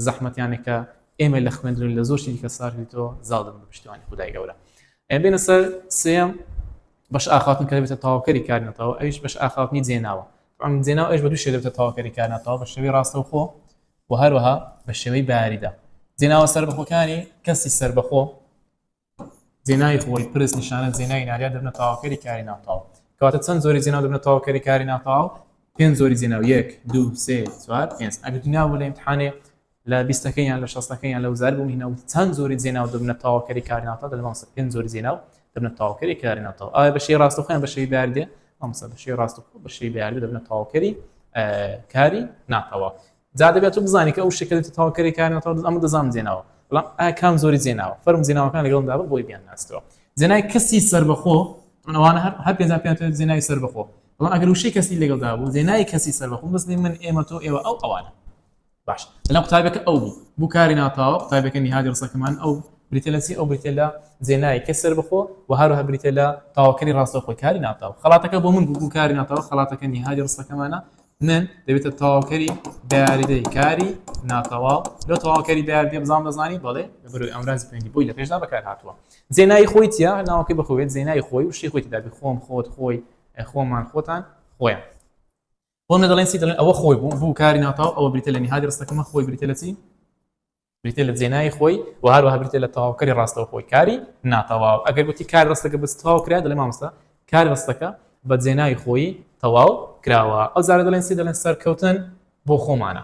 [SPEAKER 1] زەحمەتیانێکە ئێمە لە خوێندن لە زۆر شتی کە ساردیتەوە زاڵدن بە پشتیوانی خدای گەورە ئەی بێنە سەر سێیەم بەش ئاخاوتن کە دەبێتە تەواوکەری کار نەتەوە ئەویش بەش ئاخاوتنی جێناوە ئەم جێناو ئەوش بە دوو شێ دەبێتە تەواوکەری کار نەتەوە بە شێوەی ڕاستەوخۆ و هەروەها بە شێوەی باریدا جێناوە سەربەخۆکانی کەسی سەربەخۆ جێناوی خۆی پرس نیشانە جێناوی ناریا دەبنە تەواوکەری کاری ناتەواو کەواتە چەند زۆری جێناو دەبنە تەواوکەری کاری ناتەواو پێنج زۆری جێناو یەک دوو سێ چوار پێنج ئەگەر ناو لە امتحانێ لە بیستەکەی یان لە شەستەکەی یان لە وزارەت بۆ مهینە وت چەند جۆری جێناو دەبنە تاواوکەری کاری ناوتاو دەلێ مامۆستا پێنج جۆری جێناو دەبنە تاواوکەری کاری ناوتاو ئایا بە شێوەی ڕاستەوخۆ یان بە شێوەی بەیاردێ مامۆستا بە شێوەی ڕاستەوخۆ بە شێوەی بەیاردێ دەبنە تاواوکەری کاری ناتەوە جا دەبێت تۆ بزانی کە ئەو شەکەت تاواوکەری کاری ناتەوە ئەمە دەزانم جێناوە بەڵام ئایا کام زۆری جێناوە فەرم جێناوەکان لەگەڵمدا بە بۆی بیان ناستەوە جێنای کەسی سربەخۆ ئەوانە هەر هەر پێنج پێ جێنای سربەخۆ بەڵام ئەگەر وشەی کەسی لەگەڵدا بوو جێنای کەسی سربەخۆ بەس من ئێمە تۆ ئێوە ئەو ئەوانە باش بەلام قوتابیەکە ئەو بوو بو کاری ناپاوە قوتابیەکە نیهادی رسەکەمان ئەو بریتە لە چی ئەو بریتە لە زێنای کە سەربەخۆ و هەروەها بریتە لە تاوکەری راستەوخۆی کاری ناپاوە خەڵاتەکە بۆ من بو بو کاری ناپاوە خەڵاتەکە نیهادی رسەکەمانە من دەبێتە تاوکەری دیاریدەی کاری ناتەواو لە تەواوکەری دیاردی بزان دەزانی بەڵێ بەروی ئەمراز پێنگی بۆی لە پێشدا بەکار هاتووە زێنایی خۆی تیا ناوەکەی بخوێت زێنای خۆی و شتی خۆی تدابی خۆم خۆت خۆی خۆمان خۆتان خۆیان بۆ منە دەڵێن چی دەڵێن ئەوە خۆی بوو بوو کاری ناتاو ئەوە بریتە لە نهادی ڕستەکەمە خۆی بریتە لە چی بریتە لە جێنای خۆی و هەروەها بریتە لە تەواوکەری ڕاستەوە خۆی کاری ناتەواو ئەگەر گوتی کار ڕستەکە بەس تەواو کرا دەڵێ مامۆستا کار ڕستەکە بە جێنای خۆی تەواو کراوە ئەو زارە دەڵێن چی دەڵێن سەرکەوتن بۆ خۆمانە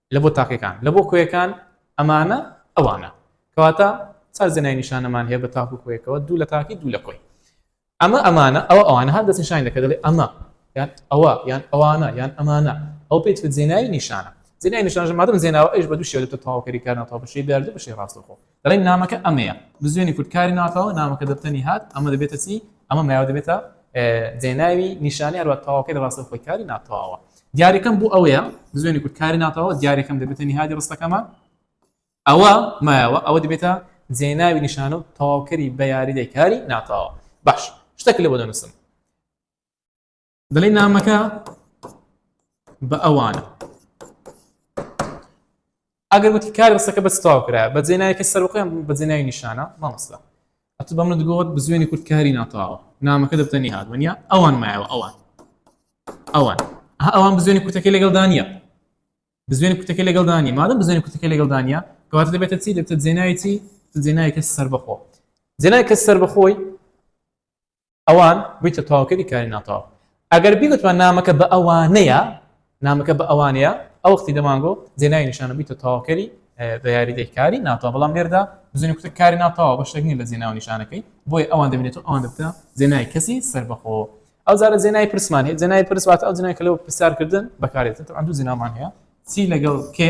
[SPEAKER 1] لە بۆ تاکەکان، لە بۆ کۆیەکان، ئەمانە، ئەوانە. کەواتە چار زنای نیشانەمان هەیە بە تاک و کۆیەکەوە، دوو لە تاکی، دوو لە کۆی. ئەمە، ئەمانە، ئەوە، ئەوانە، هەر دەستنیشانی دەکەین، دەڵێین، ئەمە، یان، ئەوە، یان، ئەوانە، یان، ئەمانە. ئەوە پێی دەوترێت زێنای نیشانە. زێنای نیشانەش مادەم زێناوە، ئەویش بە دوو شێوە دەبێتە تەواوکەری کارناتەواو، بە شێوەی بەیاردو و بە شێوەی ڕاستەوخۆ. دەڵێن نامەکە ئەمەیە بزوێنی کورد کاری ناکەوە نامەکە دەبتەنی هات ئەمە دەبێتە چی ئەمە مایاوە دەبێتە دێناوی نیشانی هەروە تەواوکە لە ڕاستە خۆی کاری ناتەواوە دیارەکەم بۆ ئەوەیە بزوێنی کورد کاری ناتەوە دیارەکەم دەبێتە نهادی ڕستەکەمان ئەوە مایەوە ئەوە دەبێتە جێناوی نیشانە و تەواوکەری بە یاریدەی کاری ناتەواوە باش شتەکە لە بۆ دەنووسم دەڵێ نامەکە بە ئەوانە ئەگەر وتی کار بەسەکە بە تاو کرا بە جێنایەکە سەرخۆیان بە جێنای نیشانە مامۆستا ئەتو بە منت گوت بزوێنی کورد کاری ناتاوە نامەکە دەبتەنی هاات وەنیا ئەوان مایەوە ئەوان ئەوان ئەوان بزوێنی کوتەکەی لەگەڵ دانە بزوێنی کوتەکەی لەگەڵ دانی مادەم بزوێنی کوتەکەی لەگەڵ دانە کەواتە دەبێتە چی دەبتە جێنایەتی جێنایەکە سەر بەخۆ جێنایکە سەر بەخۆی ئەوان بویتە تەواوکەری کاری ناتەواو ئەگەر بیگوتمان نامەکە بە ئەوانەیە نامەکە بە ئەوانەیە ئەو وەختی دەمانگۆ جێناوی نیشانە بیتە تەواوکەری بە یاریدەی کاری ناتەوە بەڵام لێردا بزنی کوتە کاری ناتەوە بە شتێک نیە لە جێناو نیشانەکەی بۆی ئەوان دەبێت و ئەوان دەبتە جێنای کەسی سربەخۆ ئەو زارە جێنای پرسمان هەیە جێنای پرسوات ئەو جنای کە لەوە پرسیارکردن بەکارێتن ئەندوو جنامان هەیە چی لەگەڵ کێ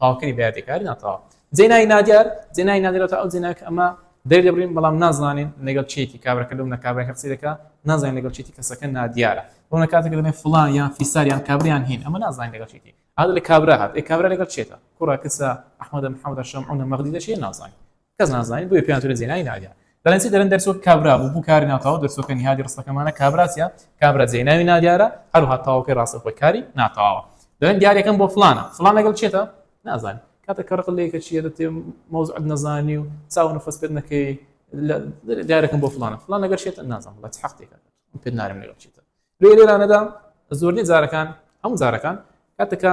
[SPEAKER 1] تاوکری بەیادی کاری ناتاوا جێنای نادیار جێنای نادیرەوە ئەو جێناک ئەمە دەر دەبرین بەڵام نازانین لەگەڵ چێتی کابرەکە لەو نەکابرای هەرسی دەکە نازانین لەگەڵ چێتی کەسەکە نادیارە بۆ نە کاتێک دەێن فلان یان فیساریان کابریان هین ئەمە نازانین لەگەڵ چێتی هذا لە کابرا هات ئێ کابرا لەگەڵ چێتە کوڕە کەسە ئەحمەدە محەمەدە شەمعونە مەغدی دەشێ نازانین کەس نازانیت بۆیە پێیان تورە زێنای ناویە بەرەنسی دەرن دەرسۆ کابرا بوو بوو کاری ناتاو دەرسۆکە نیهادی ڕستەکەمانە کابراسە کابرا زێناوی نادیارە هەروها تاوەکەی ڕاستە خۆی کاری ناتاوە دەن دیارەکەم بۆ فلانە فلان لەگەڵ چێتە نازانین کاتە کە ڕق لەیەکە چیە دەتێ مەوزعت نەزانی و چاو نفەس پێت نەکەی دیارەکەم بۆ فلانە فلان لەگەر شێتە نازان بە حقتێکە پێت نارم لەگەڵ چێتە لێ لێرانەدا زۆرنی جارەکان هەموو جارەکان کاتەکە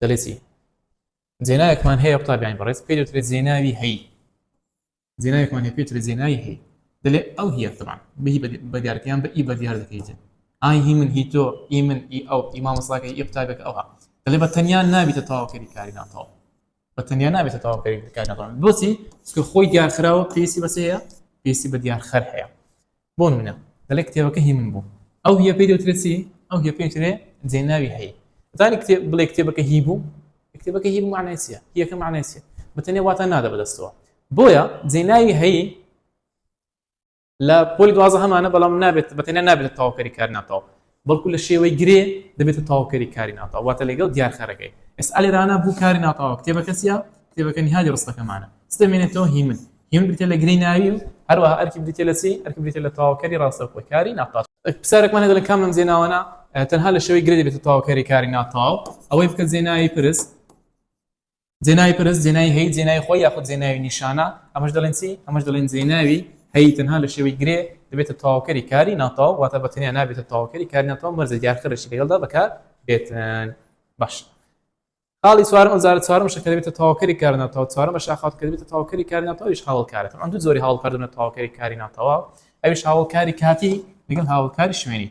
[SPEAKER 1] دەڵێ چی جێناوێکمان هەیە قوتابیانی بەڕێز پێ دەوترێت جێناوی هەی جێناوێکمان هەیە پێترێت جێناوی هەی دەلێ ئەو هیە تەبان بهی بە دیارکەیان بە ئی بە دیار دەکەیتن ئای هی من هی تۆ ئی من ئی ئەو ئی مامۆساکە ئی قوتابێک ئەوها دەلێ بە تەنیا نابیتە تەواوکەری کاری ناتەوە بە تەنیا نابێتە تەواوکەری کاری ناتەوە بۆچی چکە خۆی دیارخراوە پێویستی بەسەیە پێویستی بە دیارخەر هەیە بۆ نموونە دەڵێ کتێبەکە هی من بوو، ئەو هیە پێی دەوترێ چی؟ ئەو هیە پێی دەوترێ جێناوی هەی. دەتوانی کتێب بڵێ کتێبەکە هی بوو؟ کتێبەکە هی بوو مەعنای چییە؟ هیەکە مەعنای چییە؟ بە تەنێ واتا نادا بە دەستەوە. بۆیە جێناوی هەی لە پۆلی دوازدە هەمانە بەڵام نابێت بە تەنیا نابێتە تەواوکەری کار ناتەواو. بەڵکو لە شێوەی گرێ دەبێتە تەواوکەری کاری ناتەواو، واتە لەگەڵ دیارخەرەکەی. ئێستا لێرانە بوو کاری ناتەواو کتێبەکە چییە؟ کتێبەکە نیهادی ڕستەکەمانە. چ دەمێنێتەوە؟ هیمن. هیمن بریتییە لە گرێی ناوی و هەروەها ئەرکی بریتییە لە چی؟ ئەرکی بریتییە لە تەواوکەری ڕاستەوخۆی کاری ناتەواو. پرسیارێکمان هەیە دەڵێ کام لەم جێناوانە تەنها لە شێوەی گرێ دەبێتە تەواوکەری کاری ناتەواو؟ ئەوەی بکە جێناوی پرس. جێناوی پرس، جێناوی هەی، جێناوی خۆی یاخود جێناوی نیشانە، ئەمەش دەڵێن چی؟ ئەمەش دەڵێن جێناوی هەی، تەنها لە شێوەی گرێ دەبێتە تەواوکەری کاری ناتەواو، واتە بە تەنیا نابێتە تەواوکەری کاری ناتەواو، مەرجە دیارخەرێکی لەگەڵدا بەکاربێتن. باش. خاڵی چوارم، ئەوجارە چوارەمشە کە دەبێتە تەواوکەری کار ناتەواو، چوارەمە شاخاوت کە دەبێتە تەواوکەری کاری ناتەواو، ئەویش هاوەڵکارە. تەبعەن دوو جۆری هاوەڵکار دەبنە تەواوکەری کاری ناتەواو، ئەویش هاوەڵکاری کاتی لەگەڵ هاوەڵکاری شوێنی.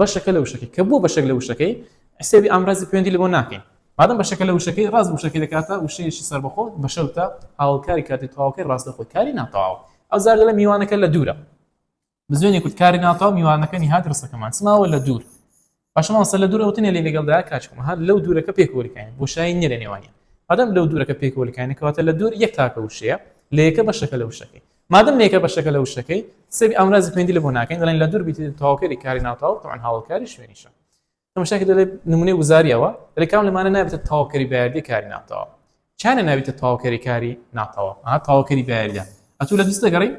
[SPEAKER 1] بەشەکە لە وشەکەی کە بووە بەشێک لە وشەکەی حسێبی ئامرازی پوێندی لەبۆ ناکەین مادەم بەشەکە لە وشەکەی ڕاست وشەکەی دەکاتە وشەیەکی سەربەخۆ بەشەوتە هاوڵکاری کاتی تەواوکەی ڕاستە خۆی کاری ناتەواو ئەو زار لە میوانەکە لە دوورە بزوێنی کورد کاری ناتەواو میوانەکە نهات ڕستەکەمان سماوە لە دوور باشماوەسە لە دوورە وتنێ لێ لەگەڵدا کاچکم هەر لەو دوورەکە پێکۆلکانی بۆ شایی نیە لە نێوانە بەدەم لەو دوورەکە پێکۆلکانی کەواتە لە دوور یەک تاکە وشەیە لە یەکە بەشەکە لە وشەکەی مادەم نەیکە بەشەکە لە وشەکەی سەبی ئامرازی پەیوەندی لە بۆ ناکەین دەڵێن لە دوور بیتی تەواوکەری کاری ناوتاو تەعن هاوڵکاری شوێنیشە تەمەشاکە دەڵێ نمونەی وزاریەوە دەڵێ کام لەمانە نابێتە تەواوکەری بەیاردی کاری ناوتاوە چانە نابێتە تەواوکەری کاری ناتەوە ئا تەواوکەری بەیاریدا ئەتوو لە دوست دەگەڕی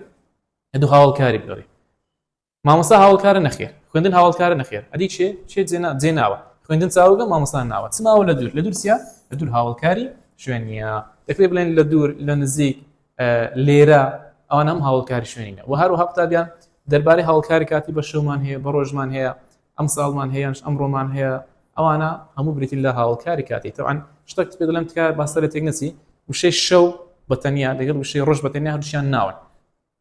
[SPEAKER 1] لە دوو هاوڵکاری بگەڕی مامۆستا هاوەڵکارە نەخێر خوێندن هاوەڵکارە نەخێر ئەدی چێ چێ جێ نا جێ ناوە خوێندن چاوگە مامۆستا ناوە چ ماوە لە دوور لە دوور چیە لە دوور هاوەڵکاری شوێن نیە دەکرێت بڵێن لە دوور لە نزیک لێرە ئەوان هەم هاوڵکاری شوێنینە و هەروها قوتابیان دەربارەی هاوڵکاری کاتی بە شەومان هەیە بە ڕۆژمان هەیە ئەم ساڵمان هەیەش ئەم ڕۆمان هەیە ئەوانە هەموو بریتین لە هاوڵکاری کاتی تەوان شتەک پێ دەڵێم تکار باسەرە تێک نەچی وشەی شەو بەتەنیا دەگەڵ وشەی ڕۆژ بەتەنیا هەردووشیان ناون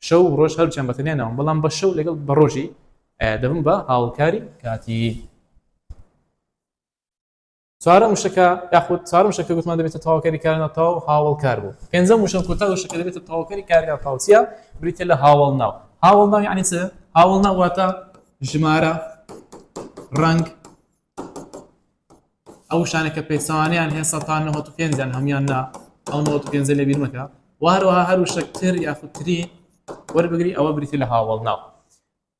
[SPEAKER 1] شەو و ڕۆژ هەرچیان بەتەنیا ناوم بەڵام بە شەو لەگەڵ بە ڕۆژی دەبم بە هاوکاری کاتی چوارە مشەکە یاخود چوار مشەکە گوتمان دەبێتە تاواکەری کارنا تاو هاوڵ کار بوو پێنجە مشن کوتا شەکە دەبێتە تاواکەری کارنا تاوچە بریتە لە هاوڵ ناو هاوڵ ناو یعنی چ هاوڵ ناواتە ژمارە ڕنگ ئەو شتانە کە پێچەوانەیان هەیە سەد تا نەوەد و پێنج یان هەموویان نا ئەو نەوەد و پێنجە لێبیر مەکە و هەروەها هەر وشەک تر یاخود تری وەربگری ئەوە بریتی لە هاوەڵناو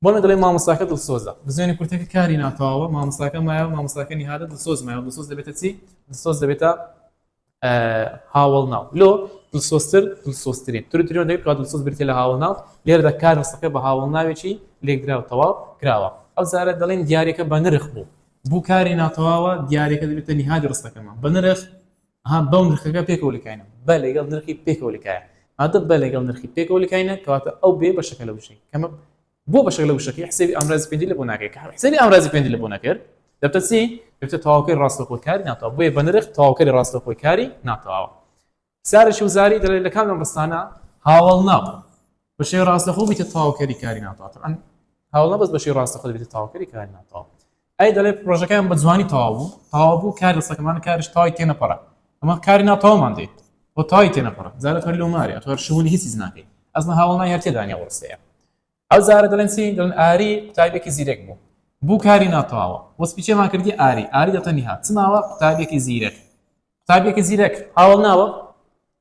[SPEAKER 1] بۆنە دەڵێ مامۆستاکە دڵسۆزە بزوێنی کورتەکە کاری ناتەواوە مامۆستاکە مایە مامۆستاکە نیهادە دڵسۆز مایە دڵسۆز دەبێتە چی دڵسۆز دەبێتە هاوەڵناو لۆ دڵسۆزتر دڵسۆزترین تر تریۆن دەوێت کە دڵسۆز بریتە لە هاوەڵناو لێرەدا کار ڕستەکە بە هاوەڵناوێکی لێکدرا و تەواو کراوە ئەو زارە دەڵێن دیارێکە بە نرخ بوو بوو کاری ناتەواوە دیارێکە دەبێتە نهادی ڕستەکەمان بە نرخ ها بەو نرخەکە پێکەوە لکاینە بە لەگەڵ نرخی پێکەوە لکایە هاتە بە لەگەڵ نرخی پێکەوە لکاینە کەواتە ئەو بێ بەشەکە لە بشین کەمە بۆ بەشەک لە وشەکەی حسێبی ئامرازی پێنجی لە بۆ ناکەی کە حسێبی ئامرازی پێنجی لە بۆ نەکرد دەبتە چی دەبتە تەواوکەی ڕاستەخۆی کاری ناتەوە بۆیە بە نرخ تەواوکەری ڕاستەخۆی کاری ناتەواوە سارش و زاری دەڵێت لە کام لەم ڕستانە هاوڵ نابوو بەشێ ڕاستەخۆ بیتە تەواوکەری کاری ناتەواوە ئەم هاوڵە بەس بەشی ڕاستەخۆ دەبێتە تەواوکەری کاری ناتەواوە ئەی دەڵێ پرۆژەکەیان بە جوانی تەواو بوو تەواو بوو کار دەستەکەمان کارش تەواوی تێ نەپەڕا ئەمە کاری ناتەواومان دێ بۆ تەواوی تێ نەپەڕا جارە تۆ لەو مارێ تۆ شوونی هیچیز ناکەی ئەزمە هاوڵنای هەر تێدانیا وڕسەیە ئەو جارە دەڵێن چی دڵن ئاری قوتابێکی زیرەک بوو بوو کاری ناتەواوە وەسپیچێمان کردی ئاری ئاری دەتەنیها چماوە قوتابێکی زیرەک قوتابێکی زیرەک هاوڵ ناوە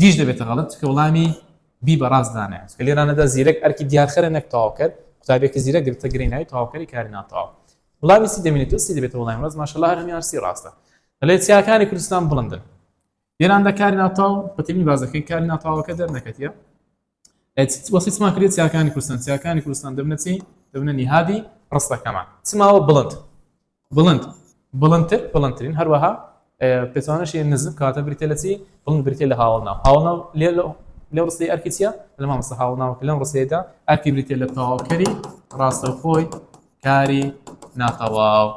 [SPEAKER 1] دیش دەبێتە غەڵەت چکە وڵامی بی بە ڕاست دانایەت کە لێرانەدا زیرەک ئەرکی دیارخەرە نەک تەواوکەر قوتابێکی زیرەک گرتە گرێ ناوی تەواوکەری کاری ناتەواو وڵامی سی دەمێنێت تۆ سی دەبێتە وڵامی ڕاست ماشەڵڵا هەر هەمیان سی ڕاستە لە چیاکانی کوردستان بڵندن لێراندا کاری ناتەواو بەتەمی بازەکەی کاری ناتەواوەکە دەرنەکەتیە وەسی چما کرێت چیاکانی کوردستان چیاکانی کوردستان دەبنە چی دەبنە نیهادی ڕستەکەمان چماوە بڵند بڵند بڵندتر بڵندترین هەروەها پێچوانەشی نزم کاتە بریتە لە چی بڵند بریتە لە هاوڵنا هاوڵنا لێ لە ڕستی ئەرکی چیە لە مامەسە هاوڵناوە لەم ڕسێدا ئەرکی بریتە لە تەواوکەری ڕاستەخۆی کاری ناتەواو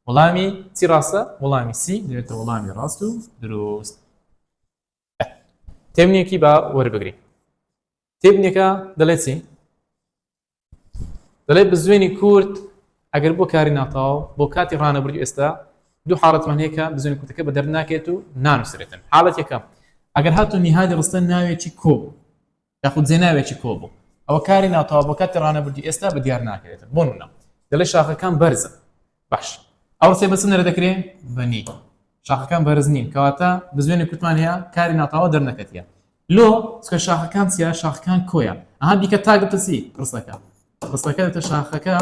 [SPEAKER 1] وڵامی چی ڕاستە وڵامی سی دەێتە وڵامی ڕاست و دروست تێبنێکی با وەربگری تێبنێکە دەڵێت چی دەڵێت بزوێنی کورد ئەگەر بۆ کاری ناتاو بۆ کاتی ڕانەبرد ئێستا دوو حاڵەتمان هەیە کە بزوێنی کوردەکە بە دەرناکێت و نانووسێتن حاڵەت یەکەم ئەگەر هاتو نیهادی ڕستە ناوێکی کۆ یاخود جێناوێکی کۆبوو ئەوە کاری ناتەوا بۆ کاتی ڕانەبردی ئێستا بە دیار ناکرێتن بۆ نە دەڵێ شاخەکان بەرزن باش ئەو سێ بەچ نەرە دەکرێ بەنی شاخەکان بەرز نین کەواتە بزوێنی کوتمان هەیە کاری ناتاوا دەرنەکەتە لۆ چکە شاخەکان چیا شاخەکان کۆیە ئەها بیکە تاگەتەسی قسەکە قسەکە دەتە شاخەکە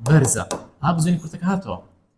[SPEAKER 1] بەرزە ها بزوێنی کورتەکە هاتەوە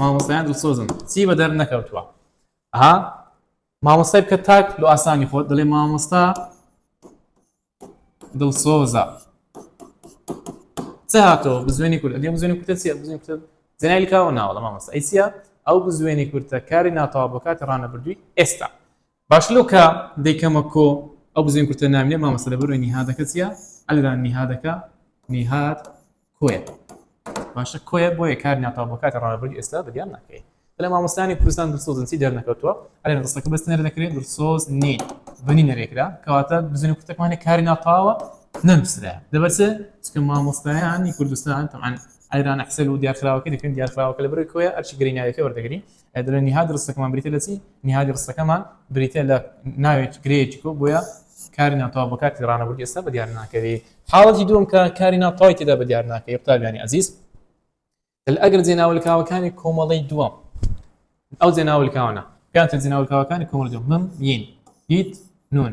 [SPEAKER 1] مامۆستایان دڵسۆزن چی بە دەر نەکەوتووە ها مامۆستای بکە تاک لۆ ئاسانی خۆت دەڵێ مامۆستا دڵسۆزە چ هاتەوە بزوێنی کورد ئەدێ بزوێنی کوتە چیە بزوێن کوتە زنای لکاوە ناوەڵە مامۆستا ئەی چیە ئەو بزوێنی کورتە کاری ناتەوا بۆ کاتی ڕانەبردووی ئێستا باش لەو کە دەیکەمە کۆ ئەو بزوێن کورتە ناوینە مامۆستا لە بەرۆی نیهادەکە چیە ئەلران نیهادەکە نیهاد کۆیە باشە کۆیە بۆیە کار ناتاو بۆ کاتی ڕابردی ئێستا بەدیان ناکەی لە مامۆستانی کوردستان درسۆزنسی دەرنەکەوتووە ئەلێ ڕستەکە بەس نەر دەکرێت درسۆز نی بنی نەرێکرا کەواتە بزنی کوتەکمانە کاری ناتاوە نەنووسرا دەبەسە چکە مامۆستایانی کوردستان تەمان ئەلران حسەل و دیارخراوەکە دەکەن دیارخراوەکە لە بەرەوەی کۆیە ئەرچی گریناوەکە وەردەگری دەڵێ نیهاد ڕستەکەمان بریتە لە چی نیهادی ڕستەکەمان بریتە لە ناوێک گرەیەکی کۆ بۆیە کاری ناتەوا بە کاتی ڕانەبوو ئێستا بە دیار ناکەوی حاڵەتی دوم کە کاری ناتەوای تێدا بە دیار ناکەی قوتابیانی ئازیز ئەگەر جێناولکاوەکانی کۆمەڵی دووەم ئەو جێناولکاوانە پێیان جێناولکاوەکانی کۆمەڵ دوم من ین هیت نون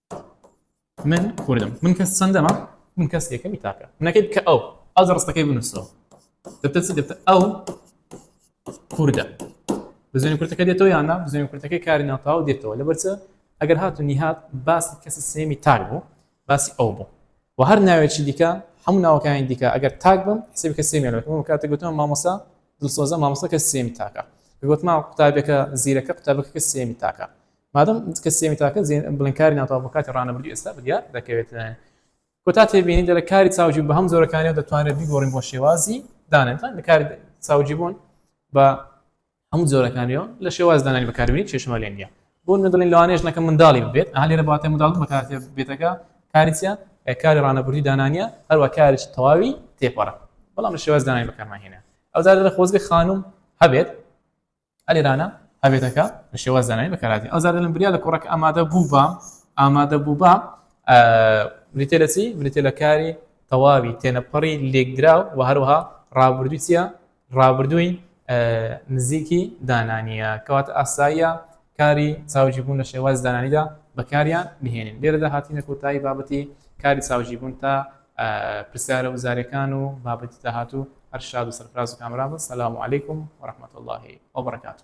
[SPEAKER 1] من کوردم من کەس چەندەمە من کەس یەکەمی تاکە منەکەی بکە ئەو ئەو جە ڕستەکەی بنووسەوە دەتە چ دەتە ئەو کوردە بزنی کورتەکە دێتەوە یاننا بزنی کورتەکەی کاری ناتاو دێتەوە لە بەرچە ئەگەر هاتو نیهات باسی کەسی سێمی تاک بوو باسی ئەو بوو و هەر ناوێکی دیکە هەموو ناوەکانی دیکە ئەگەر تاک بم حسێبی کە سێمیان بەکەم کاتە گوتم مامۆسا دڵسۆزە مامۆسەکە سێمی تاکە گوتمان قوتابەکە زیرەکە قوتابەکە سێمی تاکە مادەم کە سێمی تاکە زین بڵێن کاری ناتەواو بۆ کاتی ڕانەبردوو ئێستا بەدیار دەکەوێت لایەن کۆتا تێبینی دەرە کاری چاوجی بە هەم جۆرەکانیەوە دەتوانێت بیگۆڕین بۆ شێوازی دانێتان لە کاری چاوجی بوون بە هەموو جۆرەکانیەوە لە شێواز دانانی بەکاربیی چێشمە لێ نیە بۆ نەدڵین لەوانێش نەکە منداڵی بێت هەلێرە باتێ منداڵ بەکاتێ بێتەکە کاریە کاری ڕانەبووری دانانیە هەروە کاریش تەواوی تێپەڕە بەڵام لە شێواز دانانی بەکارمانهێنە ئەوزار لە خۆزگە خانم هەبێت ئەلێرانە هەبێتەکە بە شێواز زانانی بەکاراتین ئەو زارە لەم بریا لە کوڕەکە ئامادە بوو بە ئامادە بوو بە بریتێ لە چی بریتێ لە کاری تەواوی تێنەپەڕی لێکدراو و هەروها ڕابردوو چیە ڕابردووی نزیکی دانانیە کەوات ئاساییە کاری چاوجی بوون لە شێواز دانانیدا بەکاریان بهێنین لێرەدا هاتینە کۆتایی بابەتی کاری چاوجی بوون تا پرسیارە وزاریەکان و بابەتی داهاتوو هەر شاد و سەرفراز و کامەران بن سلام علیکم و رحمت اللە و برکاته.